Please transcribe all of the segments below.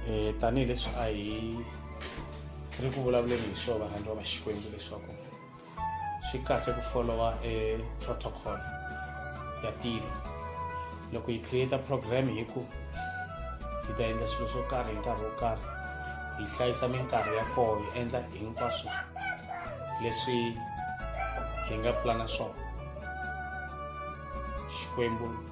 um tanihileswi a hi ri ku vulavuleni hi swo varhandziwa va xikwembu leswaku swi kahle ku folowa e protocol ya tilo loko hi create program hi ku hi ta endla swilo swo karhi hi nkarhi wo karhi hi hlayisa minkarhi ya koho hi endla hinkwaswo leswi hi nga pulana swona xikwembu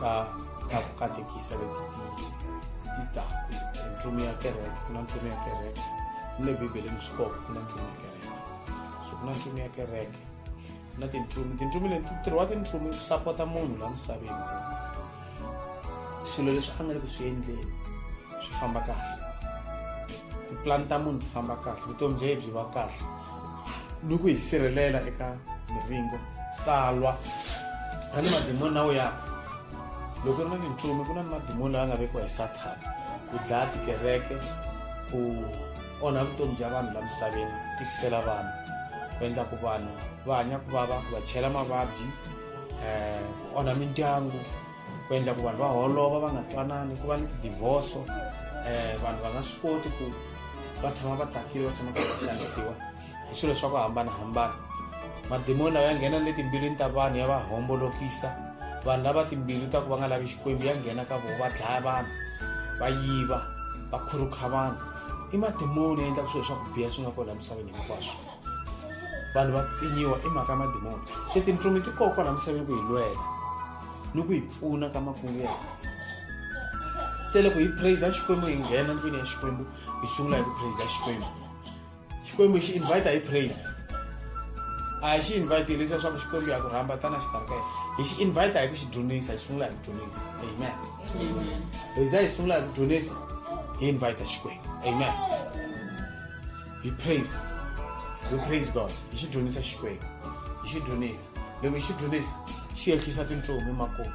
ka ka go katekisa le ditako ntlome ya kereke go na ntlome ya kereke mme bibele mosikopo go na ntlome ya kereke so go na ntlome ya kereke go na tintlome tintlome le ntirho wa tintlome ku sapota munhu la misaveni swilo leswi a nga le ku swi endleni swi famba kahle tipulani ta munhu ti famba kahle vutomi bya ye byi va kahle ni ku hi sirhelela eka miringo talwa a ni madimoni na ya loko ri na minchumu ku na ni madimoni lawa nga vekiwa hi sathana ku dlaya tikereke ku onha vutomi bya vanhu la misaveni ku tikisela vanhu ku endla ku vanhu va hanya ku vava ku va chela mavabyi um ku onha mindyangu ku endla ku vanhu va holova va nga twanani ku va ni tidivhoso um eh, vanhu va nga swi koti ku va tshama va tsakile va tshama va xanisiwa hi swilo swa ku hambanahambana madimoni lawa ya nghena le timbilwini ta vanhu ya va hombolokisa vanhu lava timbilu ta ku va nga lavi xikwembu ya nghena ka vona va dlaya vanhu va yiva va khurukha vanhu i madimoni ya endlaka swilo swa ku biha swi nga kona emisaveni hinkwaswo vanhu va pfinyiwa i mhaka ya madimoni se tintsumi ti koko la misaveni ku hi lwela ni ku hi pfuna ka makungu ya hina se loko hi praise xikwembu hi nghena ndlwini ya xikwembu hi sungula hi ku praise xikwembu xikwembu xi invite hi praise a hi xi invite hi leswiya swa ku xikwembu ya ku rhamba tana xikarhi ka yena hi xi invite hi ku xi dyonisa hi sungula hi ku dyonisa amen hi za hi sungula hi ku dyonisa hi invite xikwembu amen hi praise hi praise god hi xi dyondzisa xikwembu hi xi dyondzisa loko hi xi dyondzisa xi ehlisa tintsumi makulu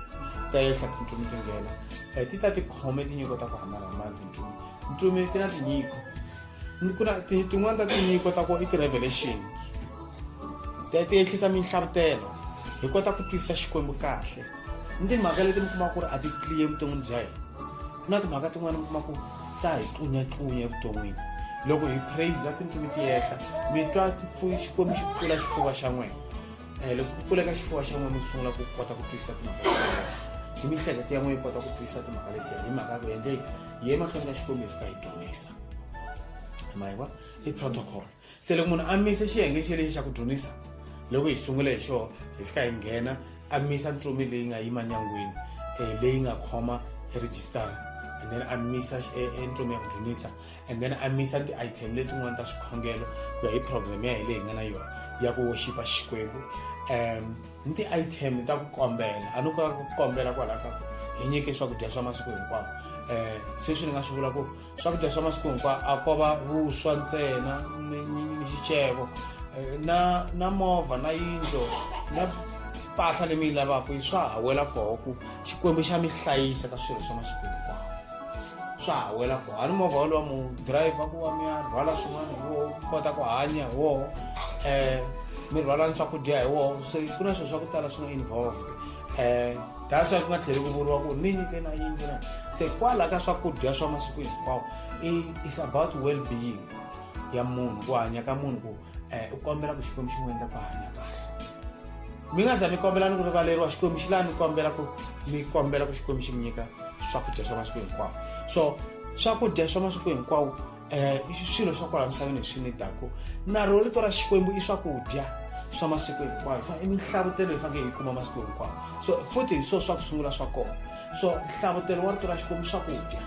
ta ehla tintsumi ti nghena um ti ta ti khome tinyiko ta ku hambanahambana tintsumi ntsumi ti na tinyiko ku na tin'wana ta tinyiko ta ku i ti-revelation ti ehlisa minhlavutelo hi kota ku twisisa xikwembu kahle ni timhaka leti mi kumaka ku ri a ti clear evuton'wini bya hina ku na timhaka tin'wana mi kuma ku ta hi tlunyatllunya evuton'wini loko hi praiser tindzimi ti yehla mi twa xikwembu xi pfula xifuva xa n'wina um loko ku pfuleka xifuva xa n'wina mi sungula ku kota ku twisisa timhaka hi miehleketo ya n'wina yi kota ku twisisa timhaka letiya hi mhaka ku endleki hi emahlweni ka xikwembu hi fika hi dyondzisa ma hi wa i protocol Se loko munhu a misa xiyenge xi lexi xa ku dzunisa loko hi sungule hi xoho hi fika hi nghena a misa ntsumi leyi nga yima nyangwini um leyi nga khoma rejistara and then a misa entsumi ya ku dzunisa and then a misa ti-item letin'wana ta swikhongelo ku ya hi program ya hi leyi hi nga na yona ya ku woxipa xikwembu um ni ti-item ta ku kombela a ni kota ku kombela kwalaho ka ku hi nyike swakudya swa masiku hinkwawo um sweswi ni nga swi vula ku swakudya swa masiku hinkwawo a ko va vuswa ntsena ni xiceko eh, na na movha na yindlo na mpahla leyi mi yi lavaka yi swa ha wela koho ku xikwembu xa mi hlayisa ka swilo swa masiku hinkwawo swa ha wela koho a ni movha wolowa mu driver ku va mi ya rhwala swin'wana hi woho kota ku hanya hi woho um mi rhwala ni swakudya hi woho se ku na swilo swa ku tala swi nga involved um that's why ku nga tlheli ku vuriwa ku ni nyike na yingi na se kwala ka swakudya swa masiku hinkwawo is about well being ya munhu ku hanya ka munhu ku um u kombela ku xikwembu xi n'wi endla ku hanya kahle mi nga za mi kombela ni ku rivaleriwa xikwembu xi laha mi kombela ku mi kombela ku xikwembu xi mi nyika swakudya swa masiku hinkwawo so swakudya swa masiku hinkwawo um swilo swa kwala misaveni hi swi nidako na ro rito ra xikwembu i swakudya swa masiku hinkwayo i minhlavutelo hi fanekele hi kuma masiku hinkwawo so futhi hi swona swa ku sungula swa kona so nhlavutelo wa rito ra xikwembu swakudya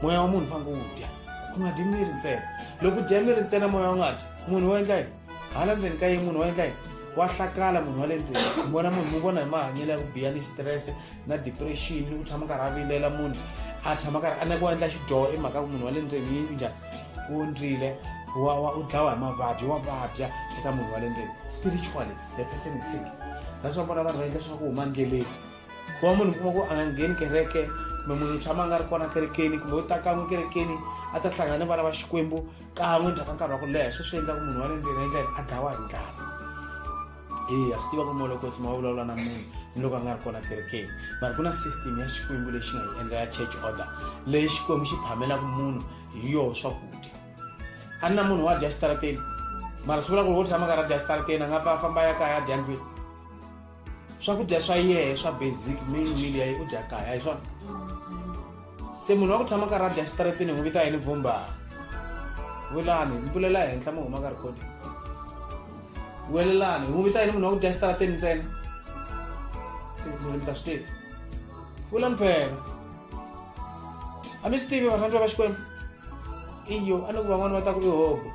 moya wa munhu fanekele wu dya ku nga dyi miri ntsena loko u dya miri ntsena moya wu nga dyi munhu wo endla yini hala ndzeni ka yini munhu wa endla yini wa hlakala munhu wa le ndlwini mi vona munhu mi vona hi mahanyelo ya ku biya ni stress na depression ni ku tshama karhi a vilela munhu a tshama karhi a neke wa endla xidyoho i mhaka ku munhu wa le ndlwini yi njhani u ondzile u dlawa hi mavabyi wa vabya eka munhu wa le ndlwini spiritually the person is sick that's why vona vanhu va endla swa ku huma ndleleni ku va munhu kuma ku a nga ngheni kereke kumbe munhu u tshama a nga ri kona kerekeni kumbe u ta kan'we kerekeni a ta hlangana ni vana va xikwembu kan'we ndzhaku ka nkarhi wa ku leha swo swi endla ku munhu wa le ndleni endla yini a dlawa hi ndlala eya swi tiva ku molokosi ma vulavula na munhu ni loko a nga ri kona kerekeni mara ku na system ya xikwembu lexi nga yi endla ya church order leyi xikwembu xi phamelaka munhu hi yoho swakudya a ni na munhu wa dya xitarateni mara swi vula ku ri wo tshama karhi a dya xitarateni a nga pfa a famba ya kaya a dya ndlwini swakudya swa yehe swa basic main meal ya yi u dya kaya hi swona se munhu wa ku tshama karhi a dya xitaratini hi n'wi vita yini vumba welani mpulela henhla mi huma ka rekhodi welelani hi n'wi vita yini munhu wa ku dya xitaratini ntsena mi ta swi tivi vula mphela a mi swi tivi varhandziwa va xikwembu iyo a ni ku van'wana va ta ku i hobo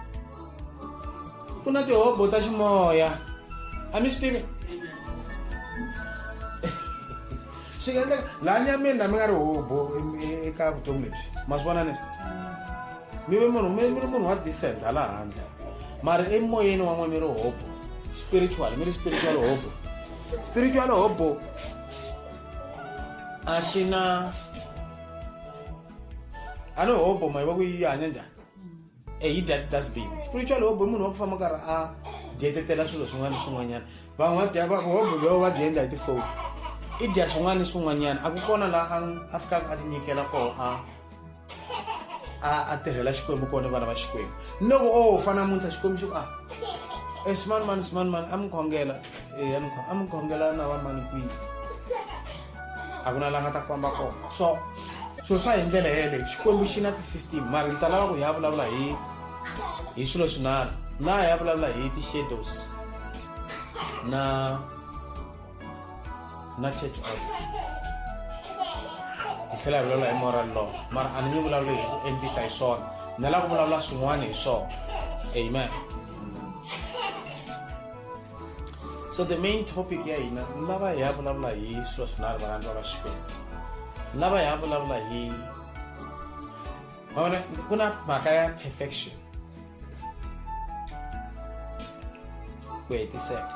ku na tihobo ta ximoya a mi swi tivi swi nga endleka laha nyameni na mi nga ri hobo eka vutomi lebyi ma swi vona leswi mi ve munhu mi ri munhu wa decent hala handle mara emoyeni wan'we mi ri hobo spiritual mi ri spiritual hobo spiritual hobo a xi na a ni hobo ma yi va ku yi hanya njhani e yi dya ti-dustbin spiritual hobo i munhu wa ku famba karhi a dyetetela swilo swin'wana ni swin'wanyana van'wadya va ku hobo lowo va dyendla hi tifoni i dya swin'wana ni swin'wanyana a ku kona laha a fikaka a tinyikela koho a a a tirhela xikwembu kona ni vana va xikwembu ni loko o oh, fana muntlha xikwembu xi ku a ah, e eh, swimanimani swimanimani a mi khongela e a mi khongela na vamani kwihi a ku na la nga ta famba kona so swilo swa hi ndlela yeleyo xikwembu xi na ti-system mara ndzi ta lava ku hi ya vulavula hi hi swilo swinharhu na hi ya vulavula hi ti-shadows na na church order hi tlhela hi vulavula hi moral law mara a ni nge vulavuli hi ku endlisa hi swona ni lava ku vulavula swin'wana hi swona amen so the main topic ya hina ni lava hi ya vulavula hi swilo swinharhu varhandzi va va xikwembu ni lava hi ya vulavula hi vavona ku na mhaka ya perfection ku hetiseka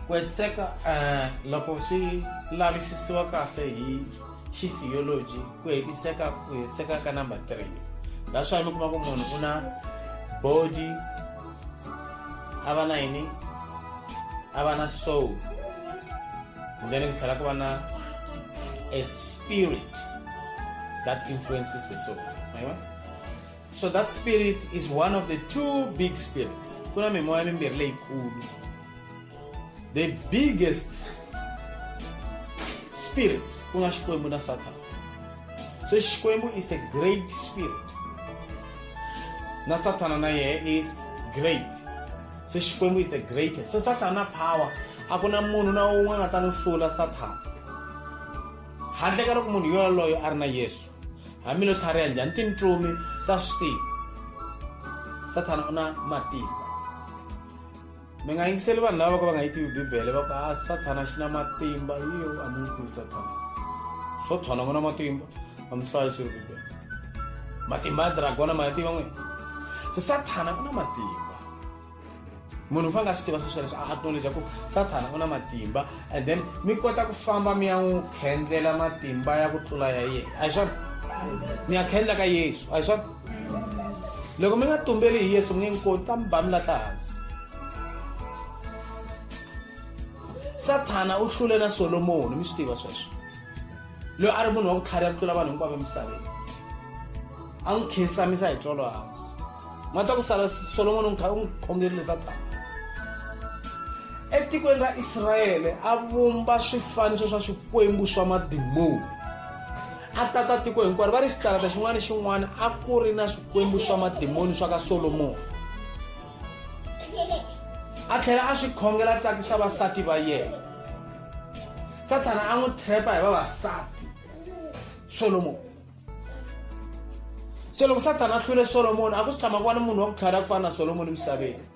ku hetiseka um loko swi lavisisiwa kahle hi xi theology ku hetiseka ku hetiseka ka number three that's why mi kuma ku munhu u na body a va na yini a va na soul then ku tlhela ku va na a spirit that influences the soul right? so that spirit is one of the two big spirits ku na mimoya mimbirhi leyikulu the biggest spirits kuna xikwembu na sathana se xikwembu is a great spirit na sathana na yehe is great se xikwembu is the greatest se sathana power a ku na munhu na un'we a nga ta n'wi hlula sathana handle ka loko munhu yoloyo a ri na yesu hamilo tlhariha njhani tintsumi ta swi tiva sathana u na matimba mi nga yingiseli vanhu lava va ka va nga yi tivi bibele va ku a ah, sathana xi na matimba yiyo a mi n'wi tivi sathana swo thona ku na matimba a mi hlayi swi ri bibele matimba ya dragona ma ya tiva n'wini se sathana u na matimba munhu u fanele a swi tiva sweswo leswi a acknowledge ku sathana u na matimba and then mi kota ku famba mi ya n'wi khendlela matimba ya ku tlula ya yena a hi swona mi ya khendla ka yesu a hi swona loko mi nga tumbeli hi yesu mi nge n'wi koti ta mi ba mi lahla hansi sathana u hlule na solomoni mi swi tiva sweswo loyi a ri munhu wa ku tlhariha ku tlula vanhu hinkwavo emisaveni a n'wi khinsamisa hi tsolo hansi ma ta ku sala solomoni u kha u n'wi khongerile sathana etikweni ra israyele a vumba swifaniso swa swikwembu swa madimoni a tata tiko hinkwaro va ri xitalata xin'wana ni xin'wana a ku ri na swikwembu swa madimoni swa ka solomoni a tlhela a swi khongela tsakisa vasati va yena sathana a n'wi trepa hi vavasati solomoni se loko sathana a hlule solomoni a ku swi tshama ku va ni munhu wa ku tlhari ya ku fana na solomoni emisaveni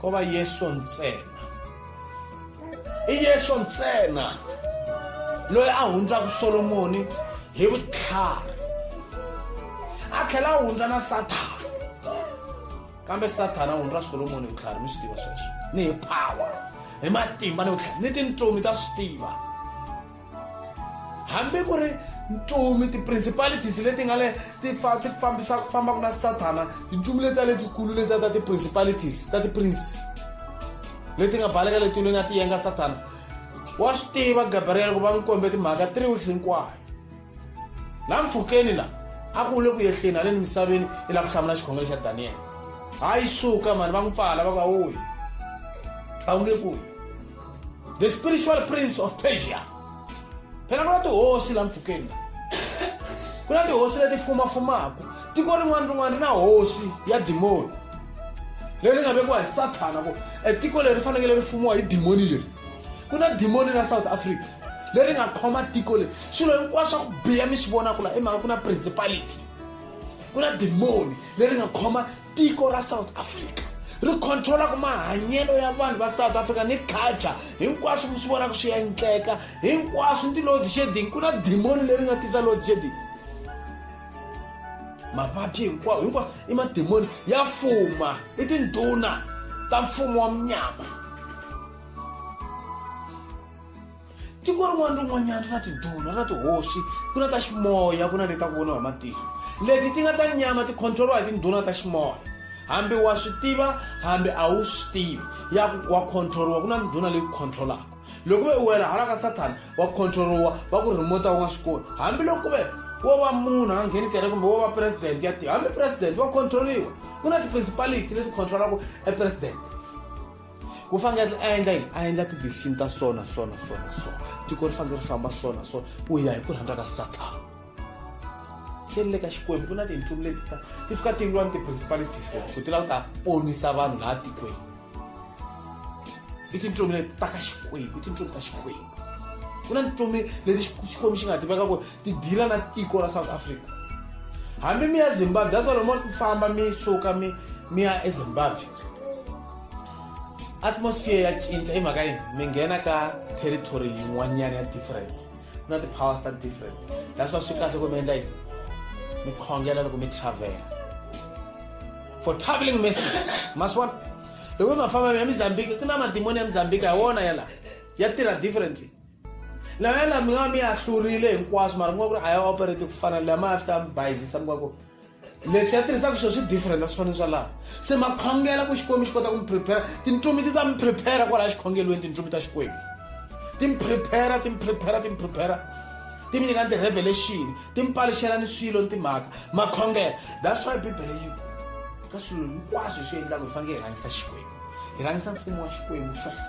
ko va yesu ntsena i yesu ntsena loyi a hundzaka solomoni hi vutlhari a tlhela a hundza na sathana kambe sathana a hundza solomoni hi vutlhari mi swi tiva sweswo ni hi power hi matimba ni vutlhari ni tintsumi ta swi tiva hambi ku ri ntumi ti-principalities leti nga le ti ti fambisa ku fambaka na sathana tintumi leti ta letikulu letiya ta ti-principalities ta ti-prince leti nga baleka letilweni ya ti yenga sathana wa swi tiva gabriel ku va n'wi kombe timhaka three weeks hinkwayo la mpfhukeni la a ku le ku yehleni haleni misaveni i lava ku hlamula xikhongelo xa daniyele hayi suka mani va n'wi pfala va ku awoyi a wu nge kuyi the spiritual prince of persia phela ku na tihosi la mpfhukeni ku na tihosi leti fumafumaka tiko rin'wana rin'wana ri na hosi ya dimoni leri nga vekiwa hi sathana ku e tiko leri fanekele ri fumiwa hi dimoni leri ku na dimoni ra south africa leri nga khoma tiko leri swilo hinkwaswo swa ku biya mi swi vonaka la i mhaka ku na principality ku na dimoni leri nga khoma tiko ra south africa ri controlaka mahanyelo ya vanhu va south africa ni culture hinkwaswo mi swi vonaka swi endleka hinkwaswo ni ti-load shedding ku na dimoni leri nga tisa load shedding mavabyi hinkwawo hinkwaswo i madimoni ya fuma i tindhuna ta mfumo wa munyama tiko rin'wana rin'wanyana ri na tiduna ri na tihosi ku na ta ximoya ku na leti ta ku voniwa hi matihlo leti ti nga ta nyama ti controliwa hi tinduna ta ximoya hambi wa swi tiva hambi a wu swi tivi ya ku wa controliwa ku na ndhuna leyi ku controlaka loko ve u wela hala ka sathana wa controliwa va ku remote u nga swi koni hambiloko ku ve wo va munhu a ngheni kere kumbe wo va president ya tiyo hambi president wa controliwa ku na ti-principality leti controlaka e president ku fanele a endla yini a endla ti-decision ta so na so na so na so tiko ri fanele ri famba so na so ku ya hi ku rhandza ka satan se ni le ka xikwembu ku na tintlulu leti ta ti fika ti lwa ni ti-principalities leti ku ti lava ku ta ponisa vanhu laha tikweni i tintlumi leti ta ka xikwembu i tintlumi ta xikwembu ku na tintlumi leti xikwembu xi nga tiveka ku ti dila na tiko ra south africa hambi mi ya zimbabwe that's why lomo famba mi suka mi mi ya ezimbabwe atmosphere ya cinca i mhaka yini mi nghena ka territory yin'wanyana ya different ku na ti-powers ta different that's why swi kahle ku mi endla yini mi khongela loko mi travela for traveling messes maswan loko mi mafamba ya mozambique ku na madimoni ya mozambique hi wona ya laha ya tirha differently na yena mi nga mi ya hlurile hinkwaswo mara mi nga ku ri a ya operate ku fana leyi ma ya fita mi bayizisa mi nga ku leswi ya tirhisaka swilo swi different a swi fanele swa laha se ma khongela ku xikwembu xi kota ku mi prepare tintlumi ti ta mi prepare kwalaya xikhongelweni tintlumi ta xikwembu ti mi prepare ti mi prepare ti mi prepare ti mi nyika ni ti-revelation ti mi paluxela ni swilo ni timhaka ma khongela that's why bibele yi ku ka swilo hinkwaswo hi swi endlaka hi fanele hi rhangisa xikwembu hi rhangisa mfumo wa xikwembu first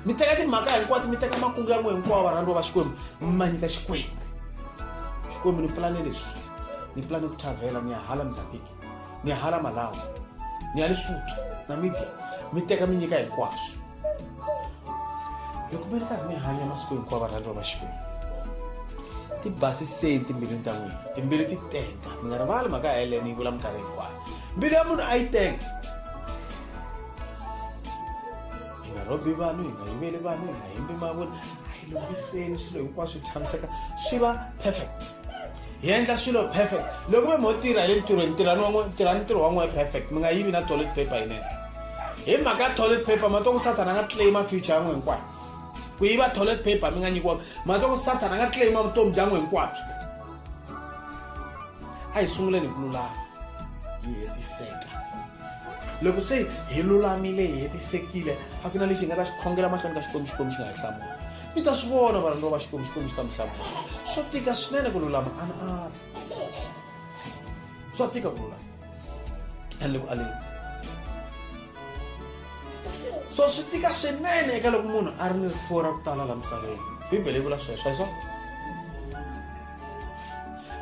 mi teka timhaka hinkwato mi teka makungu ya n'we hinkwawo varhandziwa va xikwembu mi ma nyika xikwembu xikwembu ni pulane leswi ni pulane ku thavhela ni ya hala mozambique ni ya hala malawi ni ya lesotho namibia mi teka mi nyika hinkwaswo loko mi ri karhi mi hanya masiku hinkwawo varhandziwa va xikwembu ti basiseni timbilwini ta n'wina timbili ti tenga mi nga rivali mhaka ya helene yi vula minkarhi hinkwayo mbiri ya munhu a yi tenge hi nga rhobi vanhu hi nga yiveli vanhu hi nga yimbi mavoni a yi lunghiseni swilo hinkwaswo swi tshamiseka swi va perfect hi endla swilo perfect loko ve mo tirha le ntirhweni tirhani wan'we tirhani ntirho wan'we perfect mi nga yivi na toilet paper yinene hi mhaka ya toilet paper ma to ku sathana a nga claima future yan'we hinkwayo ku yiva toilet paper mi nga nyikiwanga ma to ku sathana a nga claima vutomi bya n'we hinkwabyo a hi sunguleni hi ku lulama hi hetiseka loko se hi lulamile hi hetisekile a ku na lexi hi nga ta xi khongela mahlweni ka xikwembu xikwembu xi nga hi hlamula mi ta swi vona varhandziwa va xikwembu xikwembu xi ta mi hlamula swa tika swinene ku lulama ana ana swa tika ku lulama a le ku aleni so swi tika swinene eka loko munhu a ri ni rifuwo ra ku tala la misaveni bibele yi vula sweswo hi swona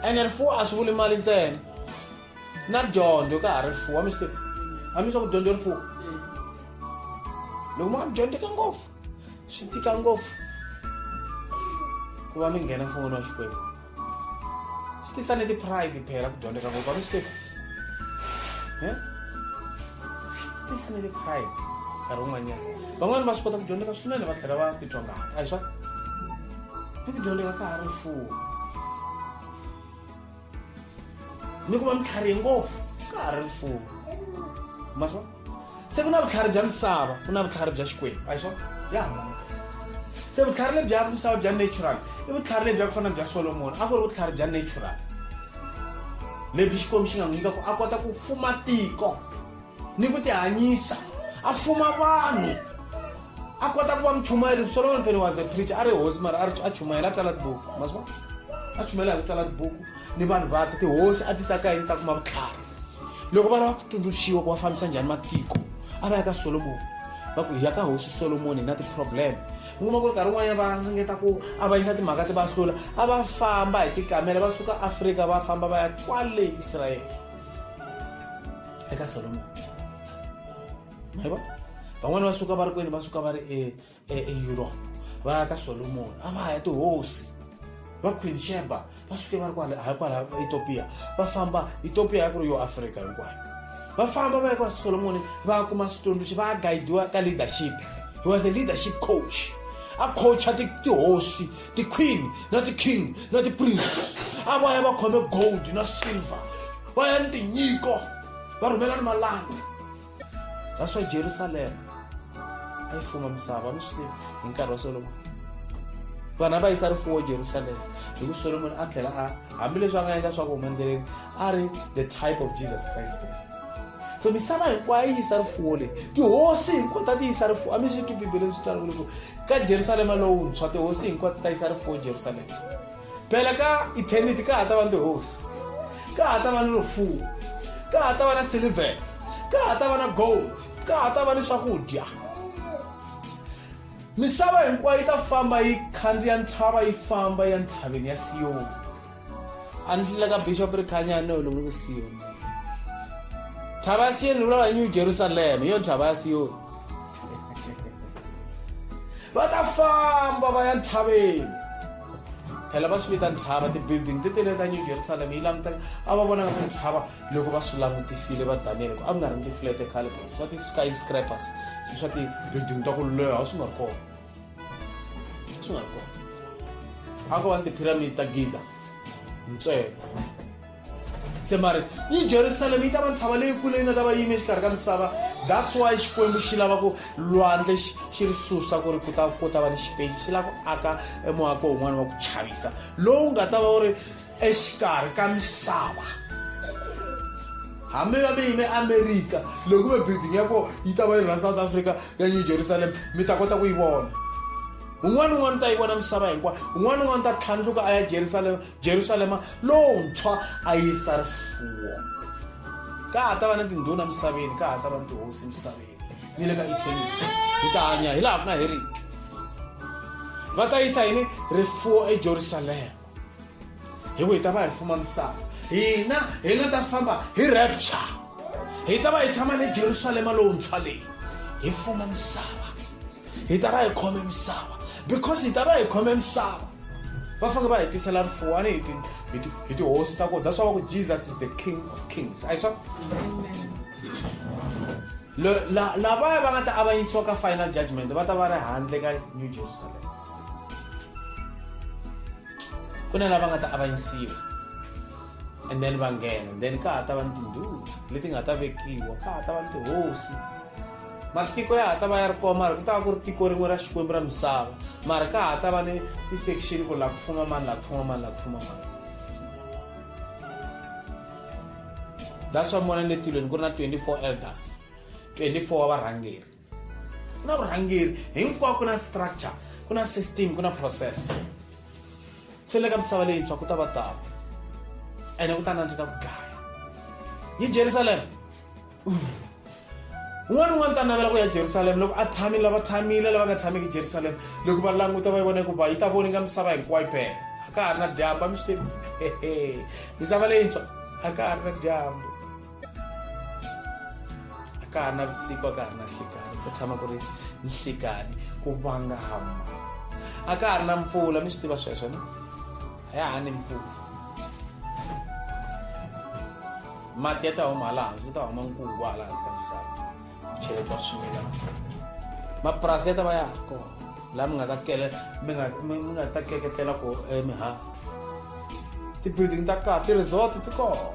ene rifuwo a swi vuli mali ntsena na dyondzo ka ha ri rifuwo a mi swi tivi a mi swa ku dyondzo rifuwo loko mi nga mi dyondzeka ngopfu swi tika ngopfu ku va mi nghena mfumo wa xikwembu swi tisa ni ti-pride phela ku dyondzeka ngopfu a mi swi tivi swi tisa ni ti-pride nkarhi wun'wanyana van'wani va swi kota ku dyondzeka swinene va tlhela va titwa ngati a hi swa ni ku dyondzeka ka ha ri mfumo ni ku va mitlharihe ngopfu ka ha ri rifuwo ma swona se ku na vutlhari bya misava ku na vutlhari bya xikwembu a hi swona ya hambana se vutlhari lebya misava bya natural i vutlhari lebya ku fana bya solomoni a ku ri vutlhari bya natural lebyi xikwembu xi nga n'wi nyika ku a kota ku fuma tiko ni ku tihanyisa a fuma vanhu a kota ku va muchumayeri solomon pele was a preacher a ri hosi mara a chumayela a tsala tibuku maswa a chumayela hi ku tsala tibuku ni vanhu vake tihosi a ti ta ka yini ta kuma vutlhari loko va lava ku tsundzuxiwa ku va fambisa njhani matiko a va ya ka solomoni va ku hi ya ka hosi solomoni hi na ti-problem mi kuma ku ri nkarhi un'wanyana va ringeta ku avanyisa timhaka ti va hlula a va famba hi tikamela va suka afrika va famba va ya kwale israyele eka solomoni ma vona van'wani va suka va ri kwini va suka va ri eeurope e, e va ya ka solomoni a va ya tihosi va queen sheba va suke va ri kwale ha kwala etopia va famba etopia ya ku ri yo afrika hinkwayo va famba va ya ka solomoni va kuma switsundzuxi va guidiwa ka leadership he was a leadership coach a coacha tihosi ti-queen na ti-king na ti-prince a va ya va khome gold na silver va ya ni tinyiko va rhumela ni malanda that's why jerusalema a yi fuma misava mi swi hi nkarhi wa solomon vana va yisa rifuwo jerusalema hi ku solomon a tlhela a hambileswi a nga endla swa ku huma endleleni a ri the type of jesus christ so misava hinkwayo yi yisa rifuwo leyi tihosi hinkwato ti yisa rifuwo a mi swi twi bibeleni swi tswalekule ku ka jerusalema lowuntshwa tihosi hinkwato ta yisa rifuwo jerusalema Phela ka eternity ka ha ta va ni tihosi ka ha ta va ni rifuwo ka ha ta va na silver ka ha ta va na gold ka ha ta va ni swakudya misava hinkwayo yi ta famba yi khandziya ntlhava yi famba ya ntlhaveni ya siyoni a ni hlile ka bishop ri khanyani ni olonge ku siyoni ntlhava ya siyoni vulava hi new jerusalema hi yo ntlhava ya siyoni va ta famba va ya ntlhaveni phela va swi vita ntshava ti-building ti tele ta new jerusalem yi languteka a va vonaka ku ntshava loko va swi langutisile va daniyele ku a ku nga ri ni tiflete khale swa ti-sky scrapers swa ti-building ta ku leha swi nga ri kona swi nga ri kona a ko va ni ti-pyramids ta giza ntswelo Se mari yi Jerusalema yi ta va ntlhava leyikulu leyi nga ta va yime exikarhi ka misava that's why xikwembu xi lava ku lwandle xi ri susa ku ri ku ta ku ta va ni space xi lava ku aka emuako wun'wana wa ku chavisa lowu nga ta va wu ri exikarhi ka misava hambi va mi yime amerika loko ve building ya kona yi ta va yi ra south africa ya new jerusalem mi ta kota ku yi vona un'wana un'wana u ta yi vona misava hinkwayo un'wana un'wana u ta tlhandluka a ya jerusalema jerusalema lowuntshwa a yisa rifuwo ka ha ta va na tindhuna misaveni ka ha ta va ni tihosi misaveni ni le ka eternity hi ta hanya hi laha ku nga heriki va ta yisa yini rifuwo ejerusalema hi ku hi ta va hi fuma misava hina hi nga ta famba hi rapture hi ta va hi tshama le jerusalema lowuntshwa leyi hi fuma misava hi ta va hi khome misava because hi ta va hi khome misava va fanele va hi tisela rifuwo a ni hi tihosi ta ku that's why va ku jesus is the king of kings a hi swona lavaya va nga ta avanyisiwa ka final judgment va ta va ri handle ka new jerusalem ku na lava nga ta avanyisiwa and then va nghena and then ka ha ta va ni tindhulu leti nga ta vekiwa ka ha ta va ni tihosi matiko ya ha ta va ya ri kona mara ku ta va ku ri tiko rin'we ra xikwembu ra misava mara ka ha ta va ni ti-section ku la ku fuma mani la ku fuma mani la ku fuma mani that's why mona ni le tilweni ku ri na 24 elders 24 wa varhangeri ku na vurhangeri hinkwako ku na structure ku na system ku na process se le ka misava leyintshwa ku ta va tano ene ku ta nandzika ku dlaya hi jerusalema un'wana un'wana ta navela ku ya jerusalema loko a tshamile lava tshamile lava nga tshamiki jerusalema loko va languta va yi vona hikuva yi ta voninga misava hinkwayo phela a ka ha ri na dyambu a mi swi tivi misava leyintshwa a ka ha ri na dyambu a ka ha ri na vusiku a ka ha ri na nhlikani ku tshama ku ri nhlikani ku vangama a ka ha ri na mpfula mi swi tiva sweswo ni a ya ha ni mpfula mati ya ta huma hala hansi ku ta huma nkungu hala hansi ka misava cheleta swimilana mapurasi ya ta va ya ha kona laha mi nga ta kele mi nga mi mi nga ta keketlela ko emihandzu ti-building ta kahle ti-resort ti kona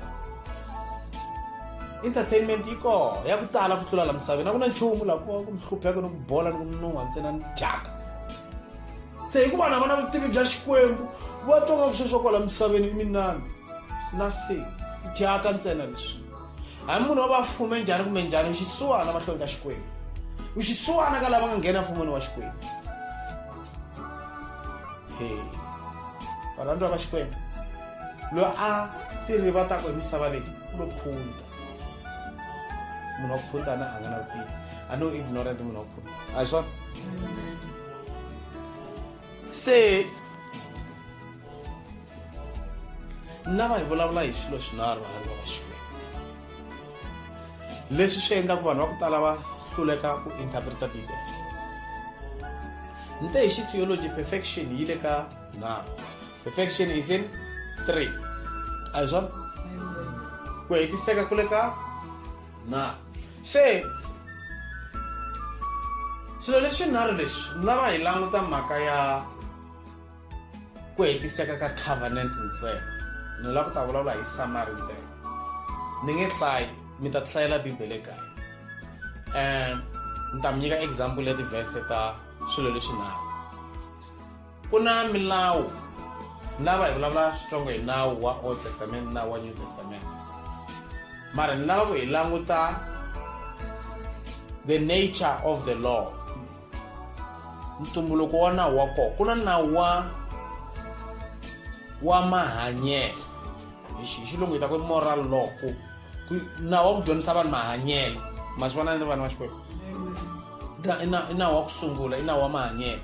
entertainment yi kona ya ku tala ku tlula la misaveni a ku na nchumu laha ku ku mi hlupheka ni ku bola ni ku minun'wa ntsena ni dyaka se hikuva na vona vutivi bya xikwembu va twa nga ku sweswo kwala misaveni i minani nothing dyaka ntsena leswi hambi munhu o va fume njhani kumbe njhani u xisiwana mahlweni ka xikwembu u xisiwana ka lava nga nghena mfumweni wa xikwembu he varhandziwa va xikwembu loyi a tirivataka hi misava leyi u lo phunta munhu wa ku phunta na a nga na vutivi a no ignorant munhu wa ku phunta a hi swona se ni lava hi vulavula hi swilo swinharhu valani va vaxikwembu leswi swi endlaku vanhu va ku tala va hluleka ku interpreta bibele ni te hi xi theology perfection yi le ka nharhu perfection is in three a hi swona ku hetiseka ku le ka na se swilo leswinharhu leswi ni lava hi languta mhaka ya ku hetiseka ka covenant ntsena ni lava ku ta vulavula hi samari ntsena ni nge hlayi mi ta hlayela bibele kaya um ni ta mi nyika example ya tivhese ta swilo leswinharhu ku na milawu lava hi vulavula switsongo hi nawu wa old testament nawu wa new testament mara ni lava ku hi languta the nature of the law ntumbuluko wa nawu wa kona ku na nawu wa wa mahanyelo hi xilungu hi ta ku moral law ku nawu wa ku dyondzisa vanhu mahanyelo ma swi vona ni vana va xikwembu i nawu wa ku sungula i nawu wa mahanyelo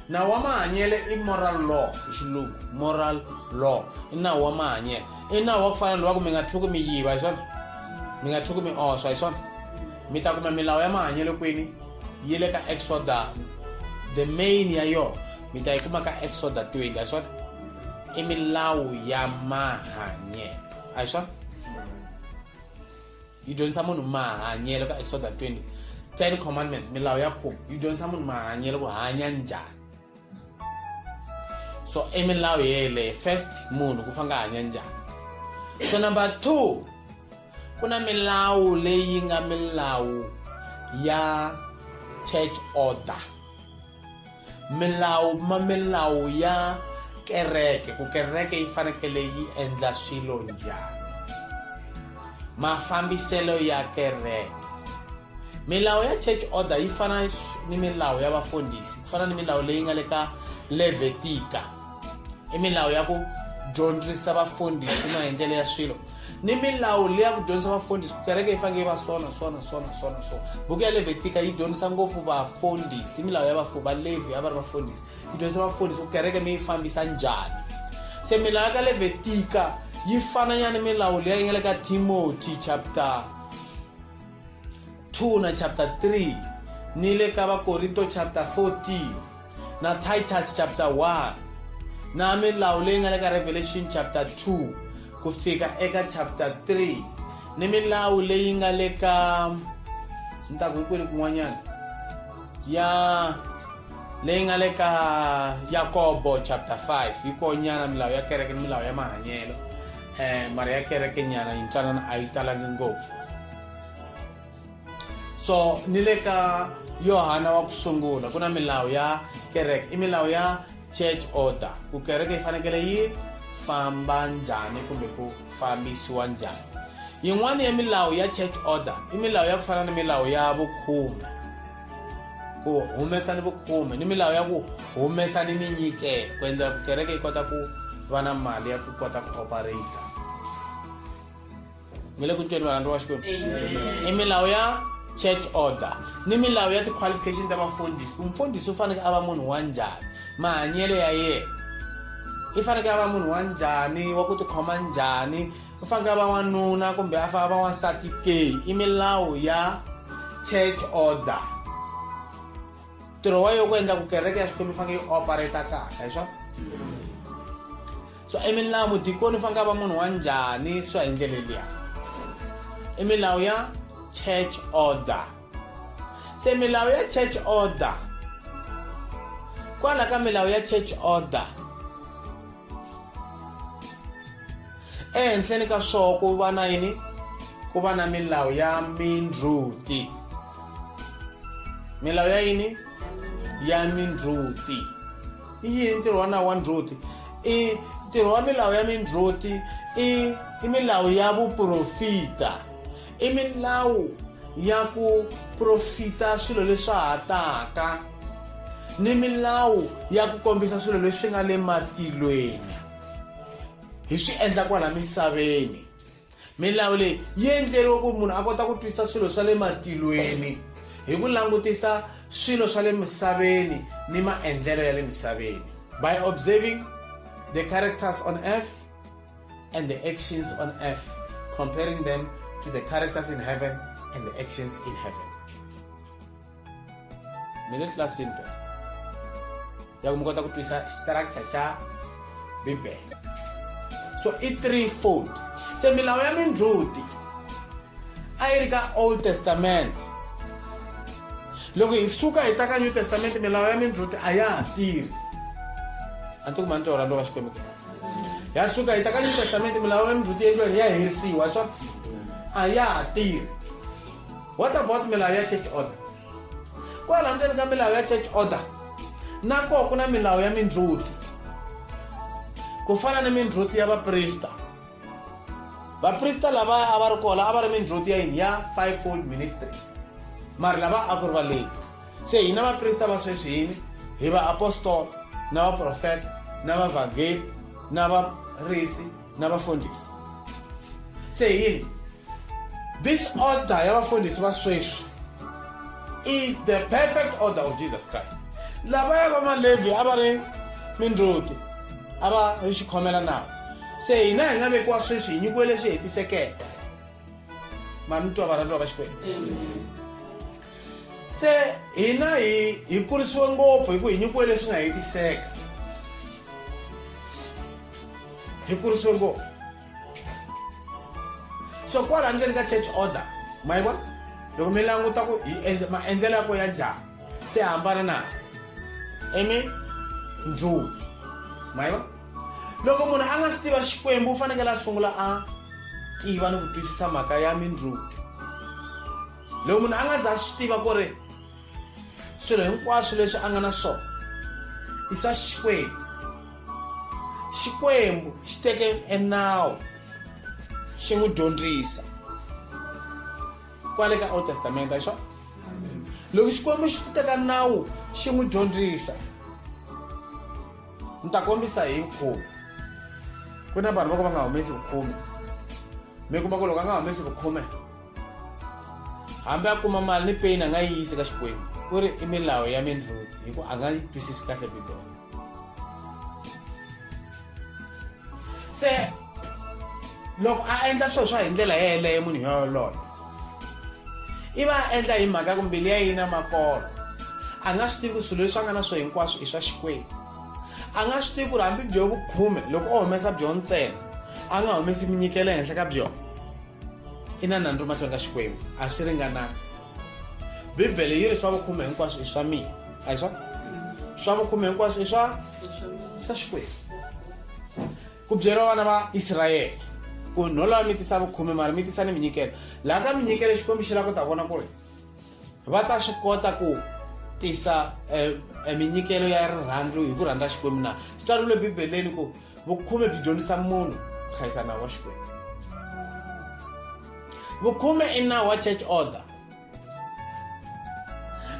nawu wa mahanyelo i moral law hi xilungu moral law i nawu wa mahanyelo i nawu wa ku fana lowa ku mi nga tlhuki mi yiva hi swona mi nga tlhuki mi oswa hi swona mi ta kuma milawu ya mahanyelo kwini yi le ka exoda the main ya yona mi ta yi kuma ka exoda 20 hi swona i milawu ya mahanyelo a hi swona yi dyondzisa munhu mahanyelo ka exoda 20 ten commandments milawu ya khume yi dyondzisa munhu mahanyelo ku hanya njhani so i milawu yeleyo first munhu ku fanga hanya njhani so number two ku na milawu leyi nga milawu ya church order milawu ma milawu ya kereke ku kereke yi fanekele yi endla swilo njhani mafambiselo ya kereke milawu ya church order yi fana ni milawu ya vafundhisi ku fana ni milawu leyi nga le ka levetika i milawu ya ku dyondzisa vafundhisi na hi ndlela ya swilo ni milawu leyi ya ku dyondzisa vafundhisi ku kereke yi faneke yi va sona sona sona sona sona buku ya levitika yi dyondzisa ngopfu vafundhisi milawu ya vafu valevi a va ri vafundhisi yi dyondzisa vafundhisi ku kereke mi yi fambisa njhani se milawu ya ka levitika yi fananyana milawu leyi yi nga le ka timoti chapter 2 na chapter 3 ni le ka vakorinto chapter 14 na titus chapter 1 na milawu leyi nga le ka revelation chapter 2 ku fika eka chapter 3 ni milawu leyi nga le ka ni ta ku hikwini kun'wanyana ya leyi nga le ka yakobo chapter 5 yi konyana milawu ya kereke ni milawu ya mahanyelo um mara ya kereke nyana yintsanana a yi talangi ngopfu so ni le ka yohana wa ku sungula ku na milawu ya kereke i milawu ya church order ku kereke yi fanekele yi famba njhani kumbe ku fambisiwa njhani yin'wana ya milawu ya church order i milawu ya ku fana ni milawu ya vukhume ku humesa ni vukhume ni milawu ya ku humesa ni minyikelo ku endlela ku kereke yi kota ku va na mali ya ku kota ku operator mi le ku tweni varhandzi wa xikwembu i milawu ya church order ni milawu ya ti-qualification ta vafundhisi ku mfundhisi u faneke a va munhu wa njhani mahanyelo ya yena i faneke a va munhu wa njhani wa ku tikhoma njhani u faneke a va wanuna kumbe a fana va wansati ke i milawu ya church order ntirho wa yo ku endla ku kereke ya xikwembu faneke yi operata kahle hi swona so i milawu dikoni fa nga va munhu wa njhani swa hi ndlela liya i milawu ya church order se milawu ya church order kwala ka milawu ya church order ehenhleni ka swoo ku va na yini ku va na milawu ya mindruti milawu ya yini ya mindruti i yini ntirho wa nawu wa ndzhuti i ntirho wa milawu ya mindzhuti i i milawu ya vuprofita i milawu ya ku profita swilo leswa ha taka ni milawu ya ku kombisa swilo leswi nga le matilweni hi swi endla kwala misaveni milawu leyi yi endleriwe ku munhu a kota ku twisisa swilo swa le matilweni hi ku langutisa swilo swa le misaveni ni maendlelo ya le misaveni by observing the characters on earth and the actions on earth comparing them to the characters in heaven and the actions in heaven middle class syndrome ya ku mi kota ku twisa structure xa bibele so i three fold se milawu ya mindzhuti a yi ri ka old testament loko hi suka hi ta ka new testament milawu ya mindzhuti a ya ha tirhi a ni to kuma ni twa rando ka xikwembu ke ya suka hi ta ka new testament milawu ya mindzhuti yendliweni ya herisiwa swa a ya ha tirhi what about milawu ya church order kwala ndzeni ka milawu ya church order na koho ku na milawu ya mindzhuti ku fana ni mindzhuti ya vaprista vaprista lavaya a va ri kona a va ri mindzhuti ya yini ya five fold ministry mari lava a ku ri valeni se hina vaprista va sweswi yini hi vaapostola na vaprofeta na vavhangeli na varisi na vafundhisi se yini this order ya vafundhisi va sweswi is the perfect order of jesus christ lavaya va malevhi a va ri mindzuti a va ri xikhomela nawu se hina hi nga vekiwa sweswi hi nyikiwe leswi hetisekeke ma ni twa varhandziwa va xikwembu se hina hi hi kurisiwe ngopfu hi ku hi nyikiwe leswi nga hetiseka hi kurisiwe ngopfu so kwala ndzeni ka church order ma yi vona loko mi languta ku maendlelo ya ko ya njhani se hambana na amen ndzulu ma yi vona loko munhu a nga si tiva xikwembu u fanekele a sungula a tiva ni ku twisisa mhaka ya mindluthu loko munhu a nga za swi tiva ku ri swilo hinkwaswo leswi a nga na swona i swa xikwembu xikwembu xi teke enawu xi n'wi dyondzisa kwale ka old testament a xona loko xikwembu xi teka nawu xi n'wi dyondzisa ni ta kombisa hi vukhume ku na vanhu va ku va nga humesi vukhume mi kuma ku loko a nga humesi vukhume hambi a kuma mali ni peni a nga yi yisi ka xikwembu ku ri i milawu ya mindlulu hi ku a nga yi twisisi kahle bibele se loko a endla swilo swa hi ndlela yeleyo munhu yoloye i va a endla hi mhaka ya ku mbilu ya yi na makolo a nga swi tivi ku swilo leswi a nga na swo hinkwaswo i swa xikwembu a nga swi tivi ku ri hambi byo vukhume loko o humesa byo ntsena a nga humesi minyikelo ehenhla ka byona i na nandzu mahlweni ka xikwembu a swi ringananga bibele yi ri swa vukhume hinkwaswo i swa mina a hi swa swa vukhume hinkwaswo i swa swa xikwembu ku byeriwa vana va israyele ku nholowa mi tisa vukhume mara mi tisa ni minyikelo laha ka minyikelo xikwembu xi lava ku ta vona ku ri va ta swi kota ku tisa eh, eh, minyikelo ya rirhandzu hi ku rhandza xikwembu na swi tsariwile bibeleni ku vukhume byi dyondzisa munhu ku hlayisa nawu wa xikwembu vukhume i nawu wa church order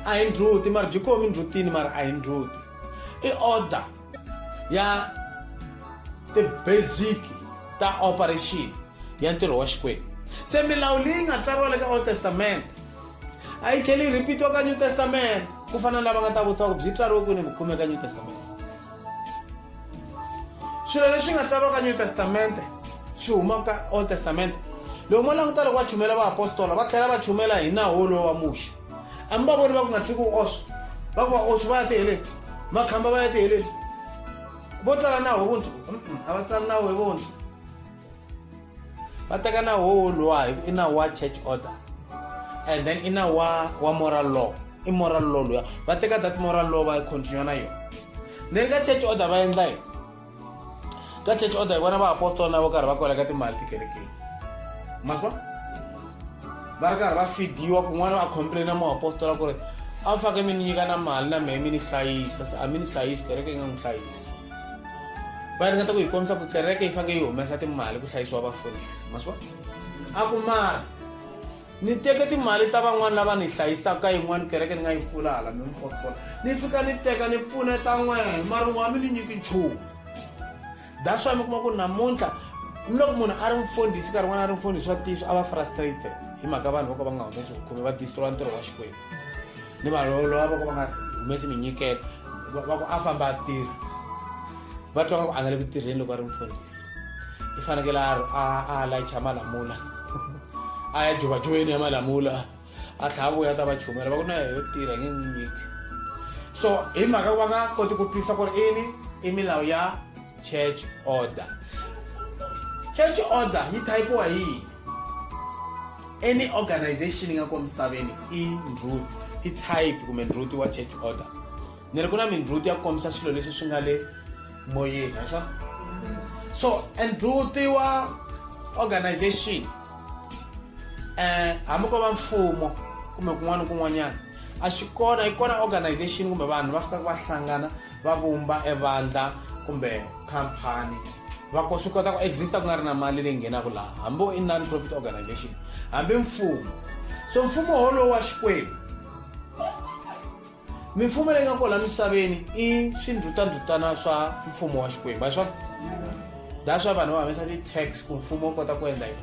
a hi ndzhuti mara byi komi ndzhutini mara a hi ndzhuti i order ya ti-basic ta operation ya ntirho wa xikwembu se milawu leyi nga tsariwa le ka old testament a yi tlheli yi rhipitiwa ka new testament ku fana na lava nga ta vutisa ku byi tsariwe kwini vukhume ka new testament swilo leswi nga tsariwa ka new testamente swi huma ka old testamente loko mo languta loko va chumela vaapostola va tlhela va chumela hi nawu wolowo wa muxe a mi va voni va ku nga tsiki u oswa va ku va oswi va ya tiheleni makhamba va ya tiheleni vo tsala nawu hi vuntshwa a va tsali nawu hi vuntshwa va teka na wowo luwa hi ku i na wa church order and then i na wa wa moral law i moral law luya va teka that moral law va continue na yona then ka church order va endla yini ka church order hi vona va apostol na vo karhi va kwela ka timali tikerekeni maswa va ri karhi va fidiwa kun'wana va complaina muapostola ku ri a mi fake mi ni nyika na mali na mehe mi ni hlayisa se a mi ni hlayisi kereke yi nga n'wi hlayisi va ringeta ku hi kombisa ku kereke yi fanele yi humesa timali ku hlayisiwa vafundhisi maswa a ku mara ni teke timali ta van'wana lava ni hlayisaka yin'wana kereke ni nga yi pfula hala mi mipotpolo ni fika ni teka ni pfuneta n'wena mara n'wa mi ni nyiki nchumu that's why mi kuma ku namuntlha ni loko munhu a ri mfundhisi nkarhi n'wana a ri mfundhisi wa ntiyiso a va frustrated hi mhaka vanhu vo ka va nga humesi vukhume va distroya ntirho wa xikwembu ni vanhu lava va ku va nga humesi minyikelo va ku a famba a tirha va twa ku a nga le ku tirheni loko a ri mfundhisi i fanekele a layicha malamula a ya jovajoveni ya malamula a tlhava vuya ta va chumela va ku na yo tirha nge n'wi nyiki so hi mhaka ku va nga koti ku twisisa ku ri ini i milawu ya church order church order yi thayipiwa yini any organization yi nga ko misaveni i ndhut i type kumbe ndhut wa church order ni ri ku na mindhut ya kombisa swilo leswi swi nga le moyeni aswa so ndhut wa organization um hambi ko va mfumo kumbe kun'wana kun'wanyana a swi kona yi kona organization kumbe vanhu va fikaka va hlangana va vumba evandla kumbe khampani va ko swi kota ku exista ku nga ri na mali leyi nghenaka laha hambi i non-profit organization hambi mfumo so mfumo wolowo wa xikwembu mimfumo leyi nga kona misaveni i swindhutandhutana swa mfumo wa xikwembu a swa that's why vanhu va humesa ti-tax ku mfumo wu kota ku endla yini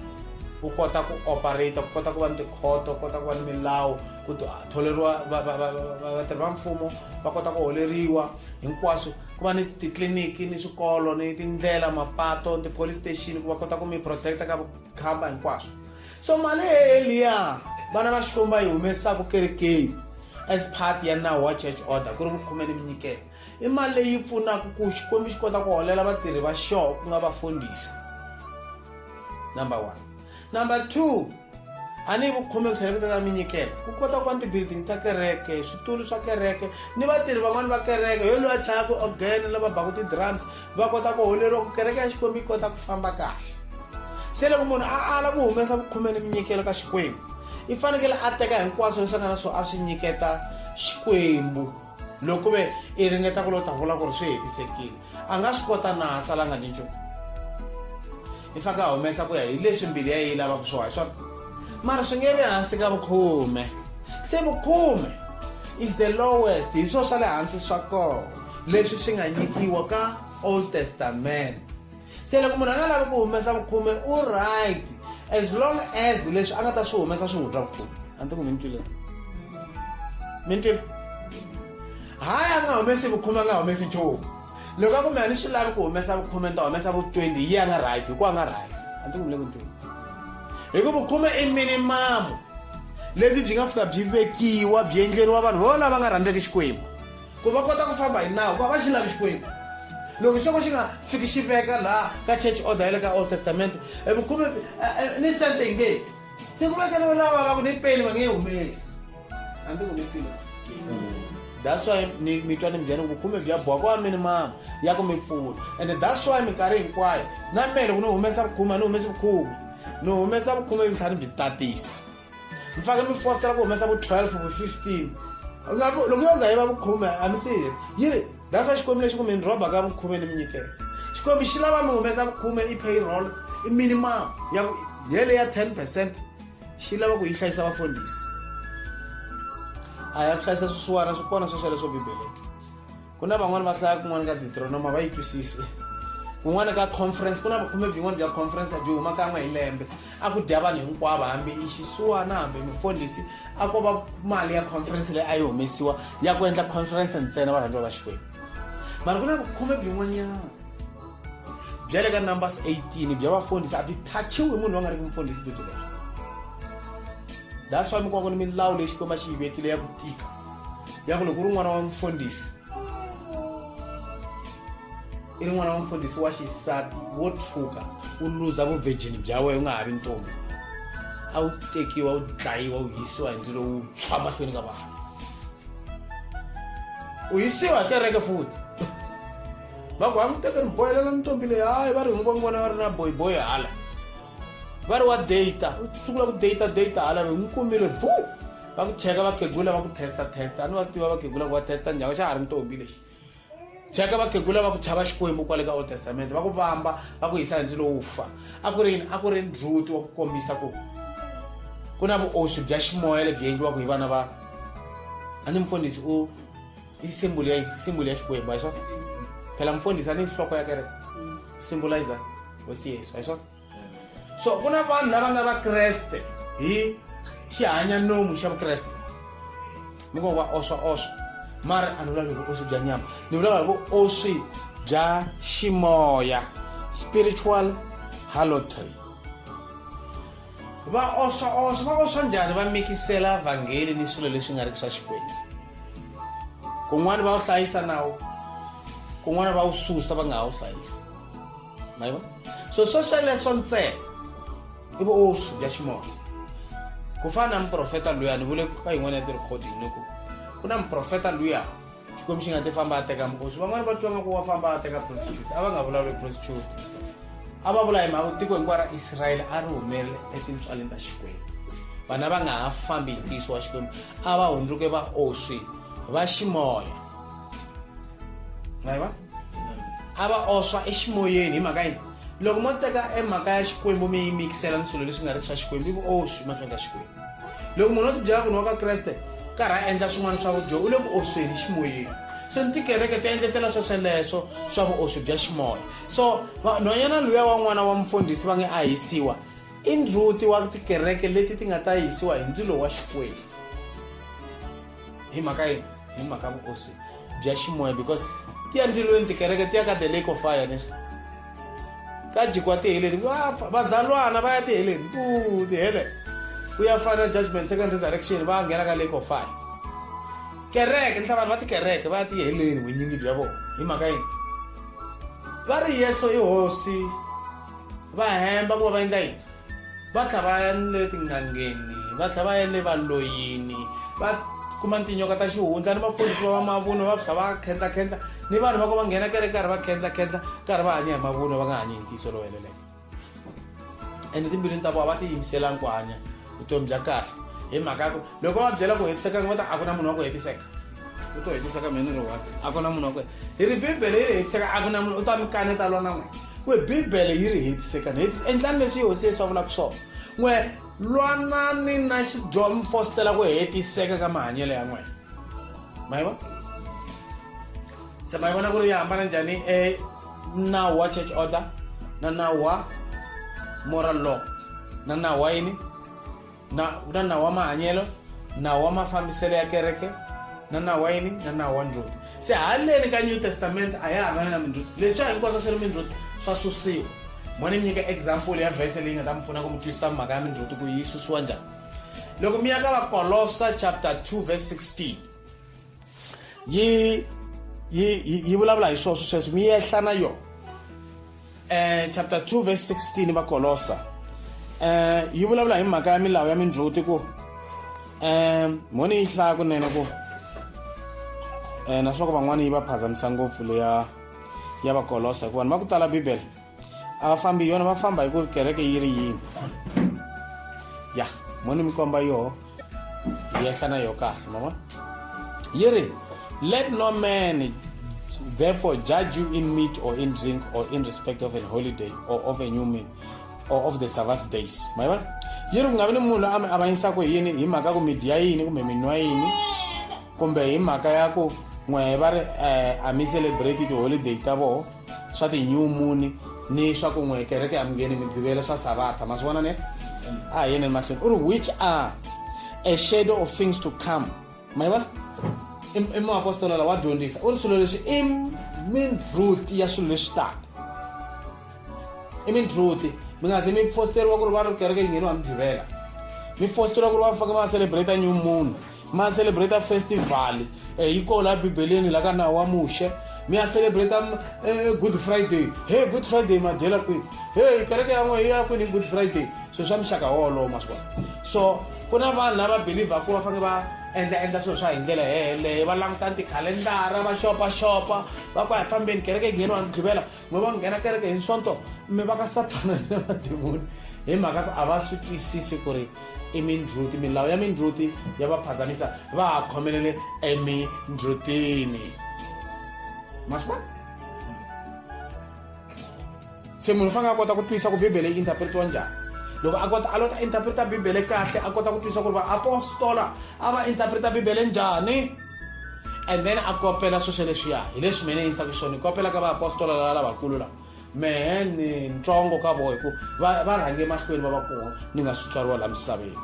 u kota ku operate ku kota ku va ni tikhoto u kota ku va ni milawu ku tholeriwa vatirhi va mfumo va kota ku holeriwa hinkwaswo ku va ni titliliniki ni swikolo ni tindlela mapato ti-police station ku va kota ku mi protect-a ka vukhamba hinkwaswo so mali eliya vana va xikomba yi humesaka kerekeni as part ya nawu wa church order ku ri ku khumeni mi nyikela i mali leyi pfunaka ku xikwembu xi kota ku holela vatirhi va xoho ku nga vafundhisi number one number two a ni hi vukhume ku tlheleketa ka minyikelo ku kota ku va ni tibuilding ta kereke switulu swa kereke ni vatirhi van'wani va kereke yo loyi a chayaka ogene lava baku ti-drums va kota ku holeriwa ku kereke ya xikwembu yi kota ku famba kahle se loko munhu a ala ku humesa vukhume ni minyikelo ka xikwembu i fanekele a teka hinkwaswo leswi a nga na swo a swi nyiketa xikwembu loko ku ve i ringeta ku lo ta vula ku ri swi hetisekile a nga swi kota na a salanga ni nchumu i faneke a humesa ku ya hi leswi mbilu ya yi lavaka swo hi swona mara swi nge vi hansi ka vukhume se vukhume is the lowest hi swo swa le hansi swa kona leswi swi nga nyikiwa ka old testament se loko munhu a nga lavi ku humesa vukhume u right as long as leswi a nga ta swi humesa swi n'wi twa vukhume a ni ti ku mi ni twile mi ni twile hayi a nga humesi vukhume a nga humesi nchumu loko a kumbe a ni swi lavi ku humesa vukhume ni ta humesa vu twenty yi a nga right hikuva a nga right a ni ti ku mi le ku ni twile hikuva vukhume i minimamu lebyi byi nga fika byi vekiwa byi endleriwa vanhu vo lava nga rhandzeki xikwembu ku va kota ku famba hi nawu ku va va xi lavi xikwembu loko xoko xi nga fiki xi veka laha ka church order ya le ka old testament e vukhume eh, eh, ni sente yi nge ti se ku vekeriwe lava va ku ni peni va nge yi humesi a ndzi ku ni pfile that's why ni mi twa ni mbyani vukhume bya boha kwa mini mama ya ku mi pfuna and that's why minkarhi hinkwayo na mehe loko ni humesa vukhume a ni humesi vukhume ni humesa vukhume vutlhani byi tatisa mi fake mi fostela ku humesa vu 12 vu 15 Ngaku- loko yo za yi va vukhume a mi siyi yi ri that's why xikwembu lexi ku mi ni rhoba ka vukhume ni mi nyikela xikwembu xi lava mi humesa vukhume i payroll i minimum ya ku yele ya 10 percent xi lava ku yi hlayisa vafundhisi a ya ku hlayisa swisiwana swi kona swo sweleswo bibeleni ku na van'wani va hlaya kun'wana ka deuteronoma va yi twisise kun'wana ka conference ku na vukhume byin'wana bya conference byi huma kan'we hi lembe a ku dya vanhu hinkwavo hambi i xisuwana hambi mufundhisi a ko va mali ya conference leyi a yi humesiwa ya ku endla conference ntsena varhandziwa va xikwembu mara ku na vukhume byin'wanyana bya le ka numbers 18 bya vafundhisi a byi thachiwi hi munhu va nga ri ki mufundhisi byi byi leswi that's why mi kuma ku ni milawu leyi xikwembu a xi yi vekile ya ku tika yaku loko u ri n'wana wa mfundhisi i ri n'wana wa mfundhisi wa xisati wo tshuka u luza vuvhejini bya wena u nga ha vi ntombi a wu tekiwa u dlayiwa u yisiwa hi ndzilo wu tshwa mahlweni ka vanhu u yisiwa hi kereke futi va ku va n'wi teke ni bohelela ntombi leyi hayi va ri hinkwavo n'wana va ri na boyiboyi hala va ri wa data u sungula ku data data hala loyi n'wi kumile buu va ku cheka vakhegula va ku testa testa a ni va swi tiva vakhegula ku va testa njhani xa ha ri ntombi lexi cheka vakhegula va ku chava xikwembu kwale ka old testament va ku vamba va ku yisa hansi lowu fa a ku ri yini a ku ri ndlhuti wa ku kombisa ku ku na vuoswi bya ximoya lebyi endliwaka hi vana va a ni mfundhisi u i simbulu ya simbulu ya xikwembu hi swona phela mfundhisi a ni nhloko ya kereke symbolizer hosi yesu hi swona so ku na vanhu lava nga vakreste hi xihanyanomu xa vukreste mi ngo va oswa oswa mara a ni vulavuli vuoswi bya nyama ni vulavula vuoswi bya ximoya spiritual halotry va oswa oswa va oswa njhani va mikisela vhangeli ni swilo leswi nga ri swa xikwembu kun'wana va wu hlayisa nawu kun'wana va wu susa va nga ha wu hlayisi mayibona so swo sweleswo ntsena i vuoswi bya ximoya ku fana na muprofeta luya ni vule ka yin'wana ya ti-recording ni ku ku na muprofeta luya xikwembu xi nga ti famba a teka muoswi van'wana va twa nga ku wa famba a teka prostitute a va nga vulavuli prostitute a va vula hi mhaka tiko hinkwaro ra israyele a ri humerile etintswaleni ta xikwembu vana va nga ha fambi hi ntiyiso wa xikwembu a va hundzuke vaoswi va ximoya ngayiva A va oswa eximoyeni. Hi mhaka yini? Loko mo teka e mhaka ya Xikwembu mi yi mikisela ni swilo leswi nga riki swa Xikwembu, i vuoswi mahlweni ka Xikwembu. Loko munhu o tibyela ku ni wa ka Kreste, karhi a endla swin'wana swa vudyoho, u le ku osweni ximoyeni. So ni tikereke ti endletela swesweleswo swa vuoswi bya ximoya. So nhwanyana luya wa n'wana wa mufundhisi va nge a hisiwa, i ndzhuti wa tikereke leti ti nga ta hisiwa hi ndzilo wa Xikwembu. hi mhaka yini hi mhaka vukosi bya ximoya because ti ya ndzilweni tikereke ti ya ka the lake of fire ni ka jikwa tiheleni vazalwana va ya tiheleni u tiheleni ku ya final judgment second resurrection va nghena ka lake of fire kereke ni hlavanhu va tikereke va ya tiheleni winyingi bya vona hi mhaka yini va ri yesu i hosi va hemba ku va va endla yini va tlha va ya ni le tin'angeni va tlha va ya le valoyini va kuma tinyoka ta xihundla ni mapholisi va va mavunwa va fika va khendlakhendla ni vanhu va ku va nghena kereke karhi va khendlakhendla karhi va hanya hi mavunwa va nga hanyi hi ntiyiso lowu heleleke ene timbilwini ta vona va tiyimiselangi ku hanya vutomi bya kahle hi mhaka ya ku loko va byela ku hetisekanga va ta a ku na munhu wa ku hetiseka u to hetiseka mina ri one a ku na munhu wa ku hi ri bibele yi ri hetiseka a ku na munhu u ta mi kaneta lwa na n'wina ku bibele yi ri hetisekani endlani leswi yehosi yesu a vulaka swona n'we lwanani na xidyomi fositela ku hetiseka ka mahanyelo ya n'wina ma yi vona se ma yi vona ku ri yi hambana njhani e na wa church order na na wa moral law na na wa yini na na na wa mahanyelo na wa mafambiselo ya kereke na na wa yini na na wa ndzhuti se haleni ka new testament a ya ha ri na mindzhuti leswi a hinkwaswo swi ri mindzhuti swa susiwa mo ni mi nyika example ya vhese leyi nga ta mi pfuna ku mi twisisa mhaka ya mindzhuti ku yi susiwa njhani loko mi ya ka vakolosa chapter 2 verse 16 yi yi yi vulavula hi swona sweswo mi yehla na yona um chapter 2 verse 16 vakolosa um yi vulavula hi mhaka ya milawu ya mindzhuti ku um mhoni yi hlaya kunene ku um naswoko van'wana yi va phazamisa ngopfu leya ya vakolosa hikuva ni va ku tala bibele a va fambi hi yona va famba hi ku ri kereke yi ri yini ya mo ni mi komba yoho yi yehla na yoho kahle ma vona yi ri let no man therefore judge you in meat or in drink or in respect of an holiday or of a new moon or of the sabbath days ma vona yi ri ku nga vi ni munhu loyi a mi avanyisaka hi yini hi mhaka ku mi dya yini kumbe mi nwa yini kumbe hi mhaka ya ku n'we va ri um a mi celebrate tiholiday ta vona swa ti-new moon ni swa ku n'we kereke ya mungeni migqivelo swa sabatha ma swi vona ne a hi yeneni mahlweni u ri which are a shadow of things to come ma yi vona i muapostola la wa dyondzisa u ri swilo leswi i mindruti ya swilo leswi taka i mindruti mi nga ze mi fositeriwa ku ri va ri kereke yi ngheniwa migqivela mi fositeriwa ku ri va faka va celebrate new moon ma celebrate festival eh, yi koho laha bibeleni la ka nawu wa muxe mi ya celebrate eh, good friday he good friday ma dyela kwini he kereke ya n'we ya kwini good friday swilo swa muxaka wolowo ma swi vona so ku na vanhu lava believer ku va fanele va endla endla swilo swa hi ndlela heleyo va languta tikhalendara va xopaxopa va ku a hi fambeni kereke ngheni wa mugqivela van'we va nghena kereke hi nswonto mi va ka sathana ni mademoni hi mhaka ku a va swi twisisi ku ri i mindruti milawu ya mindruti ya va phazamisa va ha khomelele emindrutini ma swi vona se munhu u fanele a kota ku twisisa ku bibele yi interpretiwa njhani loko a kota a lota interpreta bibele kahle a kota ku twisisa ku ri vaapostola a va interpreta bibele njhani and then a kopela swo sweleswiya hi leswi mina yi yisaka swona ni kopela ka vaapostola lava lavakulu lava mehe ni ntsongo ka vona hi ku va rhange mahlweni va va kona ni nga swi tswariwa laha misaveni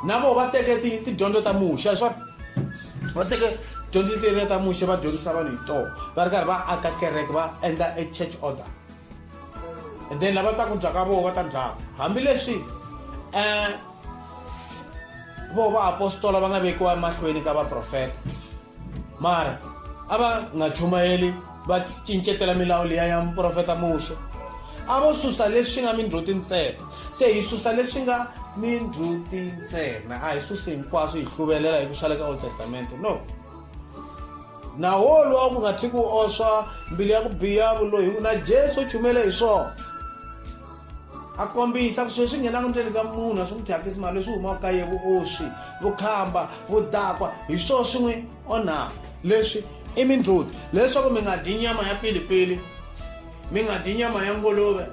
na vona va teke tidyondzo ta muxa swa va teke dyondzo letiya ta muxe va dyondzisa vanhu hi tona va ri karhi va aka kereke va endla e church order and then lava ta ku dya ka voho va ta dyaka hambileswi um voho vaapostola va nga vekiwa emahlweni ka vaprofeta mara a va nga chumayeli va cincetela milawu liya ya muprofeta muxe a vo susa leswi nga mindhluti ntsena se hi susa leswi nga mindhluti ntsena a hi susi hinkwaswo hi hluvelela hi ku xaleka old testamente no naho lwa ku nga thi ku oswa mbilu ya ku biha vuloyi ku na jesu u chumele hi swona a kombisa ku sweswi nghenaka ndzeni ka munhu a swi n'wi thyakisi mali leswi humaka ka ye vuoswi vukhamba vudakwa hi swo swi n'wi onhaka leswi i mindzuti leswaku mi nga dyi nyama ya pilipili mi nga dyi nyama ya nguluve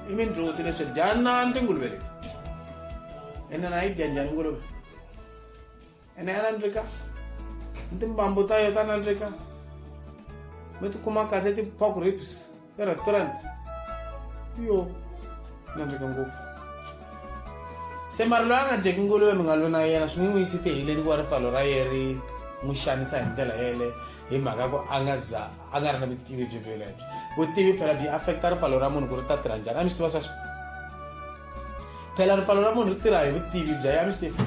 i mindzuti leswi dyanani tinguluve leti ene na yi dya njhani nguluve ene ya nandzika ni timbambu ta yo ta nandzika mi tikuma kahle ti-pork ribs erestaurant yo nandzika ngopfu se mari loyi a nga dyeki nguluve mi nga lwi na yena swi n'wi n'wi yisi tiheleni ku va ripfalo ra ye ri n'wi xanisa hi ndlela yele hi mhaka ku a nga za a nga ri na vutivi byi byelebyo vutivi phela byi affecta ripfalo ra munhu ku ri ta tirha njhani a mi swi tiva sweswo phela ripfalo ra munhu ri tirha hi vutivi bya ya mislefu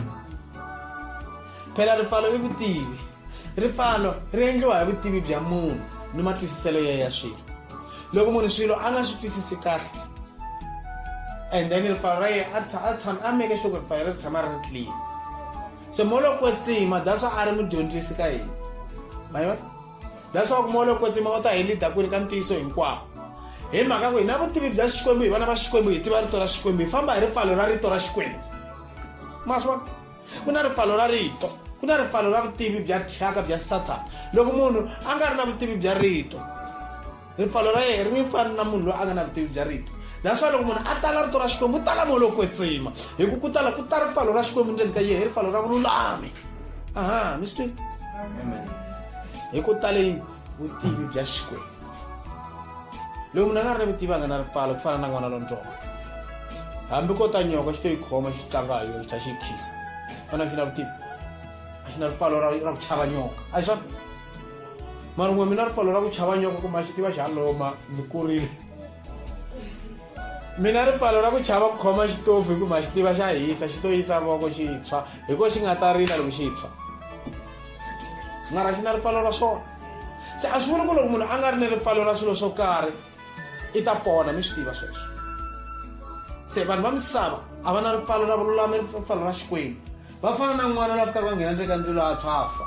phela ripfalo i vutivi ripfalo ri endliwa hi vutivi bya munhu ni matwisiselo ya ya swilo loko munhu swilo a nga swi twisisi kahle and then ripfalo ra yena a meke sure ku ripfalo ri tshama ri ri clean se molokwetsima that's why a ri mudyondzisi ka yena ma yona leswaku moya lowo kwetsima u ta hi lida kwini ka ntiyiso hinkwawo hi mhaka ku hi na vutivi bya xikwembu hi vana va xikwembu hi tiva rito ra xikwembu hi famba hi ripfalo ra rito ra xikwembu maswa ku na ripfalo ra rito ku na ripfalo ra vutivi bya thyaka bya sathana loko munhu a nga ri na vutivi bya rito ripfalo ra yehe ri fani na munhu loyi a nga na vutivi bya rito that's why loko munhu a tala rito ra xikwembu u tala moya lowo kwetsima hi ku ku tala ku ta ripfalo ra xikwembu ndzeni ka yehe ripfalo ra vululami aha mi swi twini hi ku taleni vutivi bya xikwembu loyi munhu a nga ri ni vutivi a nga na ripfalo ku fana na n'wana lontsongo hambi ko ta nyoka xi to yi khoma xi tlanga hi yona xi tlha xi yi khisa fana xi na vutivi a xi na ripfalo ra ku chava nyoka a hi swona mara n'we mina ri pfalo ra ku chava nyoka kuma xi tiva xa loma ni kurile mina ri pfalo ra ku chava ku khoma xitofu hi ku ma xi tiva xa hisa xi to yisa voko xi tshwa hi ko xi nga ta rila loko xi tshwa mara xi na ri pfalo ra swona se a swi vuli ku loko munhu a nga ri ni ri pfalo ra swilo swo karhi i ta pona mi swi tiva sweswo se vanhu va misava a va na ri pfalo ra vululami ri pfalo ra xikwembu va fana na n'wana la fikaka va nghena ndzeni ka ndzilo a tshwafa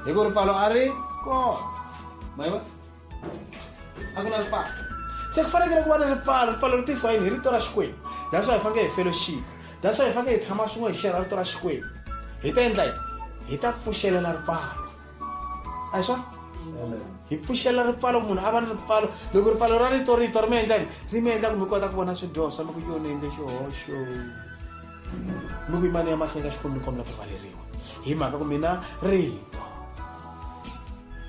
hi ku ripfalo a ri kona mayiva a ku na ripfalo se ku fanekele ku va na ripfalo ripfalo ri tisiwa yini hi rito ra xikwembu that's why hi fanekele hi fellowship that's why hi fanekele hi tshama swin'we hi xerha rito ra xikwembu hi ta endla yini hi ta pfuxelela ripfalo a hi swona hi pfuxela ripfalo ku munhu a va ni ripfalo loko ripfalo ra rito rito ri mi endla yini ri mi endla ku mi kota ku vona swidyoho swa loko yonendle xihoxo mi ku yimani emahlweni ka xikwembu ni kombela ku rivaleriwa hi mhaka ku mina rito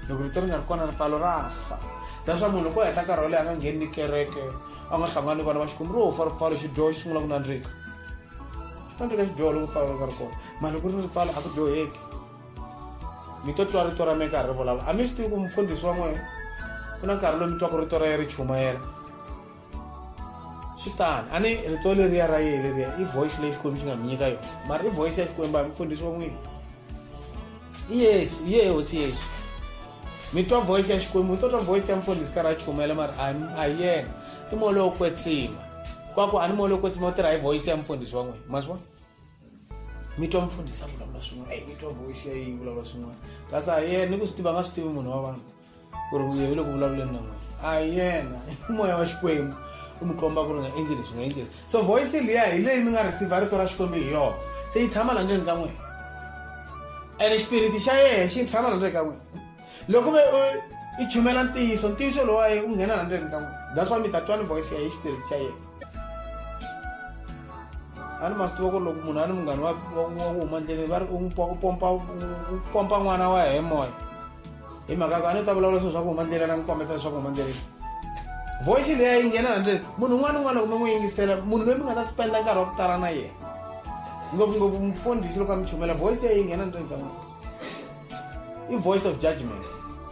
loko rito ri nga ri kona ripfalo ra fa that's why munhu loko heta nkarhi wo leyi a nga ngheni ni kereke a nga hlangani vana va xikwembu ro fa ripfalo xidyoho xi sungula ku nandzika xi nandzika xidyoho loko ripfalo ri nga ri kona mani loko ri ni ripfalo a ku dyoheki mi to twa rito ra mi karhi ri vulavula a mi swi tivi ku mufundhisi wa n'wehe ku na nkarhi lowu mi twaka rito ra ye ri chumayela swi tani a ni rito leriya ra yena leriya i voice leyi xikwembu xi nga mi nyika yona mara i voice ya xikwembu a mi pfundhisi wa n'wini i yesu i yehe hosi yesu mi twa voice ya xikwembu mi to twa voice ya mfundhisi karhi a chumela mara a hi yena i moya lowo kwetsima kwaku a ni moya lowo kwetsima u tirha hi voice ya mfundhisi wa n'wina ma swi vona mi twa mfundhisi a vulavula swin'wana eyi mi twa voice ya yi vulavula swin'wana kasi a hi yena ni ku swi tiva nga swi tivi munhu wa vanhu ku ri vuyevi loku vulavuleni na n'wina a hi yena i moya wa xikwembu u mi komba ku ri nga endli leswi nga endli leswi so voice liya hi leyi mi nga receive rito ra xikwembu hi yona se yi tshama la ndzeni ka n'wina ene xipiriti xa yena xi tshama la ndzeni ka n'wina loko ve i chumela ntiyiso ntiyiso lowa ye u nghena la ndzeni ka n'wina that's why mi ta twani voice ya hi xipiriti xa yena a ni ma swi tiva ku ri loko munhu a ni munghana wa ku huma ndleleni va ri u pompa n'wana wa hi moya hi mhaka ku a ni ta vulavula swilo swa ku huma ndlela na mi kombeta leswaku huma ndleleni voice leyi a yi nghena handle munhu un'wana un'wana kumbe n'wi yingisela munhu loyi mi nga ta spenda nkarhi wa ku tala na yena ngopfungopfu mufundhisi loko a mi chumela voice ya yi nghena ndleni ka n'wina i voice of judgment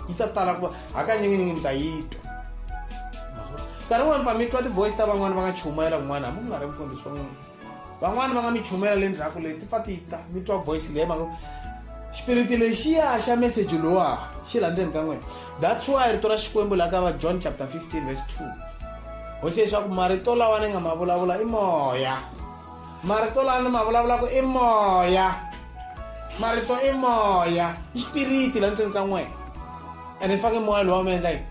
yi ta tala ku va hakanyikinyingi mi ta yi twa nkarhi wun'wana pfa mi twa ti-voice ta van'wana va nga chumela kun'wana hambi ku nga ri mfundhisi wa n'wina van'wani va nga mi chumela le ndzhaku leyi ti pfa ti ta mi twa voice leyi mhaka xipiriti lexiya xa meseji lowa xi la ndzeni ka n'wina that's why rito ra xikwembu la ka va john chapter 15 verse 2 hosi leswaku marito lawa ni nga ma vulavula i moya marito lawa ni ma vulavulaka i moya marito i moya i xipiriti la ndzeni ka n'wina ene swi fake moya lowa mi endla yini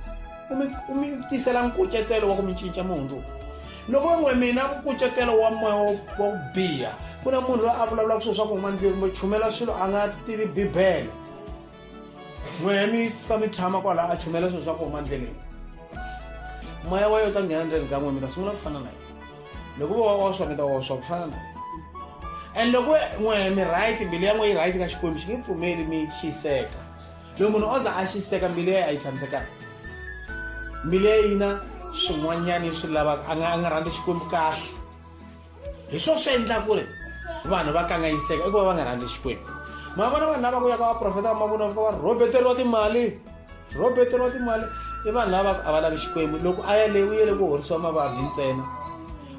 u mi tisela nkucetelo wa ku mi cinca mi hundzuka loko van'we mina nkucetelo wa moya wo biha ku na munhu loyi a vulavulaka swilo swa ku huma ndlwini kumbe chumela swilo a nga tivi bibele n'wehe mi ka mi tshama kwalaho a chumela swilo swa ku huma ndleleni moya wa yo ta nghena ndzeni ka n'we mi ta sungula ku fana na yena loko vo wa oswa mi ta oswa ku fana na yena and loko n'wehe mi right mbilu ya n'we yi right ka xikwembu xi nge pfumeli mi xiseka loko munhu o za a xiseka mbilu ya a yi tshamisekanga mbilu ya yina swin'wanyana yi swi lavaka a nga a nga rhandzi xikwembu kahle hi swo swi endla ku ri vanhu va kanganyiseka i ku va va nga rhandzi xikwembu ma vona vanhu lava ku ya ka vaprofeta va mavona va rhobeteriwa timali rhobeteriwa timali i vanhu lava a va lavi xikwembu loko a ya leyi u yele ku horisiwa mavabyi ntsena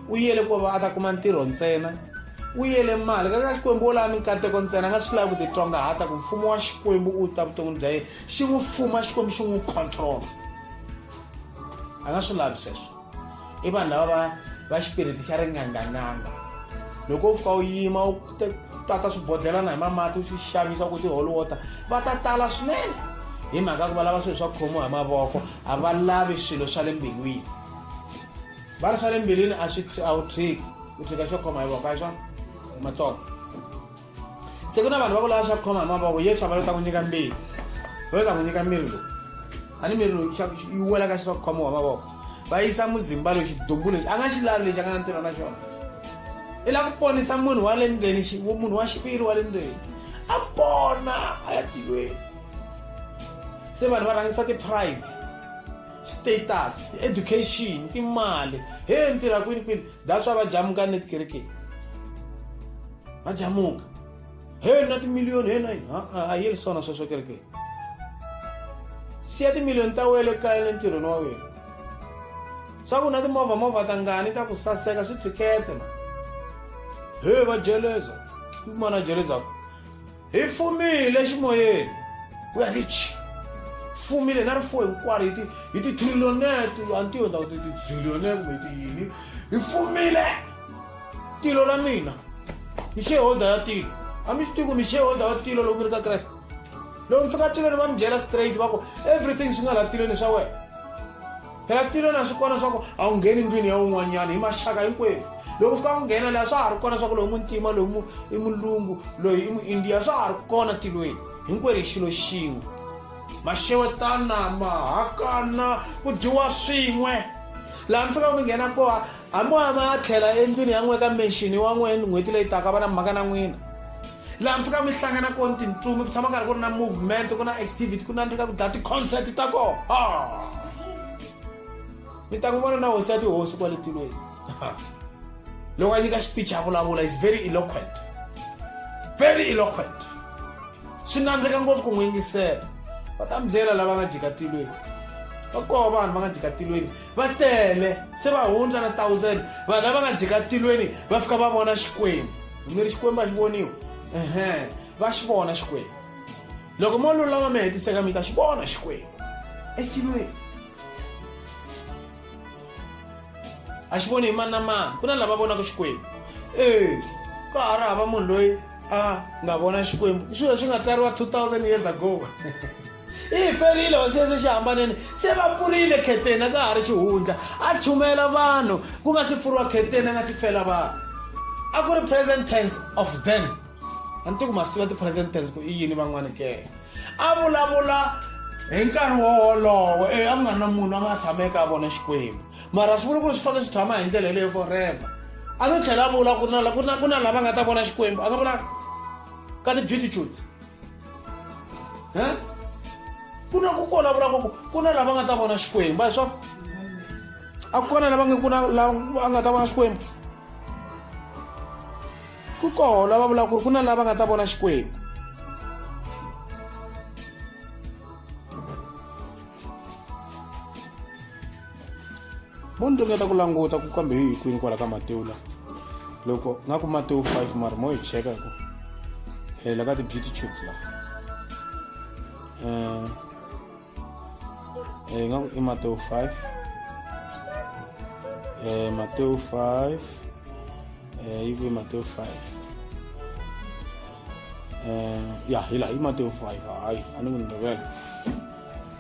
u yele ku va a ta kuma ntirho ntsena u yele mali ka xikwembu wo lava minkateko ntsena a nga swi lavi ku titswangahata ku mfumo wa xikwembu u ta vuton'wini bya yena xi n'wi fuma xikwembu xi n'wi control a nga swi lavi sweswo i vanhu lava va va xipiriti xa ringanganganga loko u fika u yima u tata swibodlhelana hi mamati u swi xavisa ku tiholi water va ta tala swinene hi mhaka ku va lava swilo swa khomiwa hi mavoko a va lavi swilo swa le mbilwini va ri swa le mbilwini a swi a wu tshiki u tshika xo khoma hi voko a swona matsongo se ku na vanhu va ku lava xa ku khoma hi mavoko yesu a va lo ta ku nyika mbili va lo ta ku nyika miri lowu a ni miri lowu yi wela ka xa ku khomiwa hi mavoko va yisa muzimba lowu xidumbu lexi a nga xi lavi lexi a nga na ntirho na xona i lava ku ponisa munhu wa le ndzeni munhu wa xiviri wa le ndzeni a pona a ya tilweni se vanhu va rhangisa ti-pride status education timali he ntirha kwini kwini that's why va jamuka ni tikerekeni va jamuka he na timiliyoni he na yini a yi ri swona sweswo kerekeni siya timiliyoni ta wele kaya le ntirhweni wa wena swa ku na timovha movha ta ngani ta ku saseka swi tshikete ma he va jeleza mana jelezako Hi fumile eximoyeni. Ku ya hi chi. Fumile na rifuwo hinkwaro hi ti hi ti trillion-et, a ni tivi ndhawu ti ti zillion-et kumbe ti yini. Hi fumile tilo ra mina. Ni shareholder ya tilo. A mi swi tivi ku ni shareholder wa tilo loko mi ri ka Kreste. Loko mi fika tilweni va mi byela straight va ku everything swi nga laha tilweni swa wena. phela ku tilo na swi kona swa ku a wu ngheni ndlwini ya un'wanyana hi maxaka hinkwerhu loko fika ku nghena laha swa ha ri kona swa ku loyi muntima loyi i mulungu loyi i muindiya swa ha ri kona tilweni hinkwerhu xilo xin'we maxewetana mahakana ku dyiwa swin'we laha mi fikaka mi nghena koha a moya ma ya tlhela endlwini ya n'we ka menxini wa n'we n'hweti leyi taka va na mhaka na n'wina laha mi fika mi hlangana kona tintsumi ku tshama karhi ku ri na movement ku na activity ku nandzika ku dlaya ti-concert ta kona mi ta n'wi vona na hosi ya tihosi kwale tilweni loko a nyika speech a vulavula is very eloquent very eloquent swi nandzika ngopfu ku n'wi yingisela va ta mi byela lava nga jika tilweni va koho vanhu va nga jika tilweni va tele se va hundza na thousand vanhu lava nga jika tilweni va fika va vona xikwembu mi ri xikwembu a xi voniwi ehe va xi vona xikwembu loko mo lulama mi hetiseka mi ta xi vona xikwembu etilweni a xi voni hi mani na mani ku na lava vonaka xikwembu e ka ha ri hava munhu loyi a nga vona xikwembu i swilo swi nga tsariwa 2000 years ago i hi ferile hosi yesu xihambaneni se va pfurile kheteni a ka ha ri xihundla a chumayela vanhu ku nga si pfuriwa kheteni a nga si fela vanhu a ku ri present tense of then a ni ti ku ma swi tiva ti-present tense ku i yini van'wani ke a vulavula hi nkarhi wo wolowo e a ku nga ri na munhu a nga tshama eka vona xikwembu mara swi vula ku ri swi fanele swi tshama hi ndlela yeleyo forever a no tlhela a vula ku na ku na ku na lava nga ta vona xikwembu a nga vula ka ti-beautitudes he ku na ku kona vula ku ku na lava nga ta vona xikwembu a hi swona a ku kona lava nga ku na lava a nga ta vona xikwembu ku koho lava vulaka ku ri ku na lava nga ta vona xikwembu mo ni ringeta ku languta ku kambe hi kwini kwala ka matewu la loko nga ku matewu 5 mara mo hi cheka ku hela ka ti-beauty tubes la um eh, nga ku i matewu 5 eh, matewu 5 eh, yi kwi matewu 5 eh, ya hi laha i matewu 5 hayi a ni ku ni rivela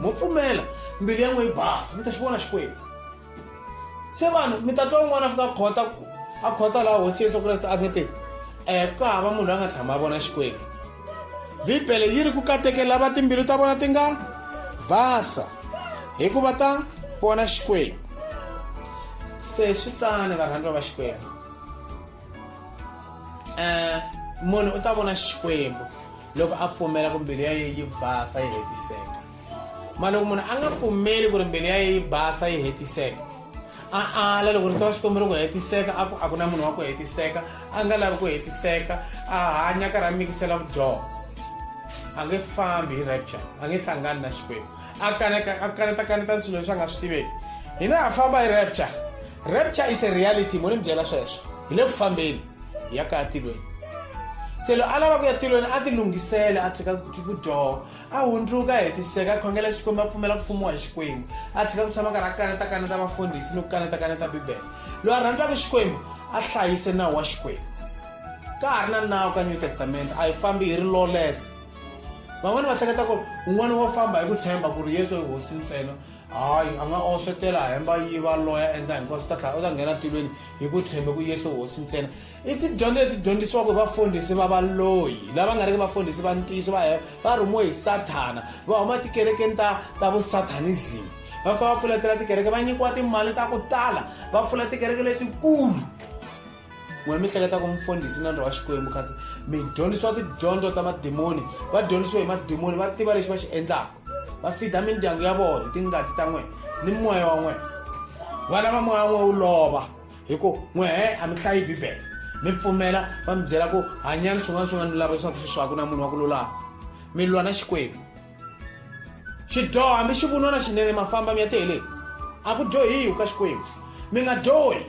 mo pfumela mbilu ya n'we yi basa mi ta xi vona xikwembu se vanhu mi ta twa un'wana a fika khota ku a khota laha hosi yesu kreste a nge te um ku hava munhu la nga tshama a vona xikwembu bibele yi ri ku kateke lava timbilu ta vona ti nga basa hikuva ta vona xikwembu se swi tani varhandziwa va xikwembu um munhu u ta vona xikwembu loko a pfumela ku mbilu ya ye yi basa yi hetiseka ma loko munhu a nga pfumeli ku ri mbilu ya ye yi basa yi hetiseka a ala loko ri twa xikombelo ku hetiseka a ku a ku na munhu wa ku hetiseka a nga lavi ku hetiseka a hanya karhi a mikisela vudyoho a nge fambi hi rapture a nge hlangani na xikwembu a kaneta a kaneta kaneta swilo leswi a nga swi tiveki hina ha famba hi rapture rapture is a reality mo ni mi byela sweswo hi le ku fambeni ya kaya tilweni se lo a lava ku ya tilweni a ti lunghisele a tlhela ku dyoha a hundzuka hetiseka a khongela xikwembu a pfumela ku fumiwa hi xikwembu a tlhela ku tshama karhi a kaneta kaneta vafundhisi ni ku kaneta kaneta bibele loyi a rhandzaka xikwembu a hlayise nawu wa xikwembu ka ha ri na nawu ka new testament a yi fambi hi ri lawless van'wana va hleketa ku un'wana wo famba hi ku tshemba ku ri yesu i hosi ntsena hayi a nga oxetela hemba yi va loya endla hinkwaswo ta tlhela u ta nghena tilweni hi ku tshembe ku yesu hosi ntsena i tidyondzo leti dyondzisiwaka hi vafundhisi va valoyi lava nga riki vafundhisi va ntiyiso va hemba va rhumiwe hi sathana va huma tikerekeni ta ta vusathanism va fika va pfuletela tikereke va nyikiwa timali ta ku tala va pfula tikereke letikulu n'we mi hleketa ku mufundhisi na ndra wa xikwembu kasi mi dyondzisiwa tidyondzo ta madimoni va dyondzisiwe hi madimoni va tiva lexi va xi endlaka va fida mindyangu ya vona hi tingati ta n'wina ni moya wa n'wina vana va moya wa n'wina wu lova hi ku n'wehe a mi hlayi bibele mi pfumela va mi byela ku hanyani swin'wana swin'wana mi lava leswaku swi swaku na munhu wa ku lulama mi lwa na xikwembu xidyoho hambi xi vunwa na xinene mafamba mi ya tele a ku dyohiwi ka xikwembu mi nga dyohi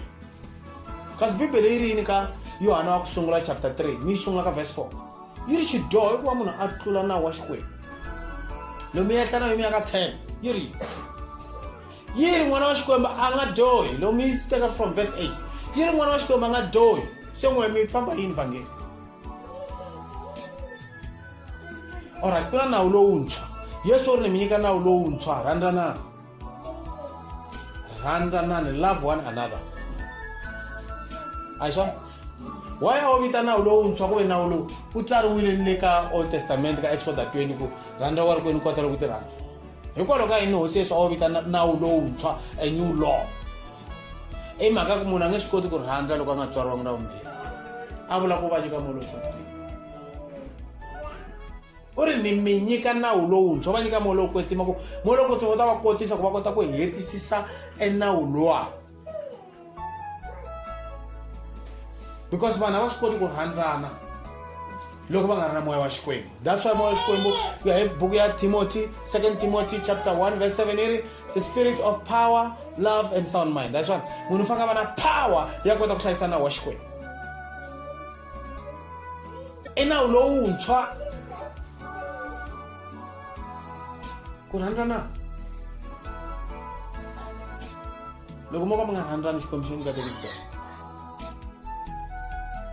kasi bibele yi ri yini ka yohana wa ku sungula chapter 3 mi yi sungula ka verse 4 yi ri xidyoho hikuva munhu a tlula nawu wa xikwembu lomu yehla na yomu ya ka 10 yi ri yi ri n'wana wa xikwembu a nga dyohi lomu yi teka from verse 8 yi ri n'wana wa xikwembu a nga dyohi se n'we mi famba yini vhangeli olright ku na nawu lowuntshwa yesu u ri ni mi nyika nawu lowuntshwa rhandzanana rhandzanani love one another a swona wa ya wo vita nawu lowuntshwa ku ve nawu lowu wu tsariwile ni le ka old testament ka exoda 20 ku rhandza wa ri kwenu kota loku ti rhandza hikwalaho ka yini hosi yesu a wo vita nawu lowuntshwa a new law i mhaka ku munhu a nge swi koti ku rhandza loko a nga tswariwangi na vumbirhi a vula ku va nyika molosotsini u ri ni mi nyika nawu lowuntshwa va nyika moya lowo kwetsima ku moya lowo kwetsima wu ta va kotisa ku va kota ku hetisisa enawu lowa because vanhu a va swi koti ku rhandzana loko va nga ri na moya wa xikwembu that's why moya wa xikwembu ku ya hi buku ya timothy second timothy chapter 1 verse 7 iri the spirit of power love and sound mind that's one munhu u fanele a va na power ya kota ku hlayisa nawu wa xikwembu i nawu lowuntshwa ku rhandzana loko mo ka mi nga rhandzani xikwembu xi nge mi katekisi kahle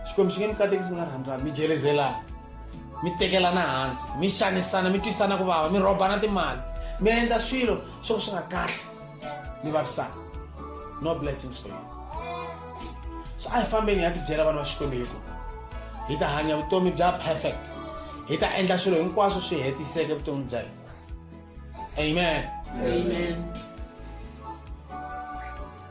xikwembu xi nge mi katekisi mi nga rhandzani mi jelezelana mi tekelana hansi mi xanisana mi twisana ku vava mi rhobana timali mi endla swilo swo ka swi nga kahle ni vavisana no blessings for you so a hi fambeni hi ya tibyela vana va xikwembu hi ku hi ta hanya vutomi bya perfect hi ta endla swilo hinkwaswo swi hetiseke vutomi bya hina amen, amen. amen.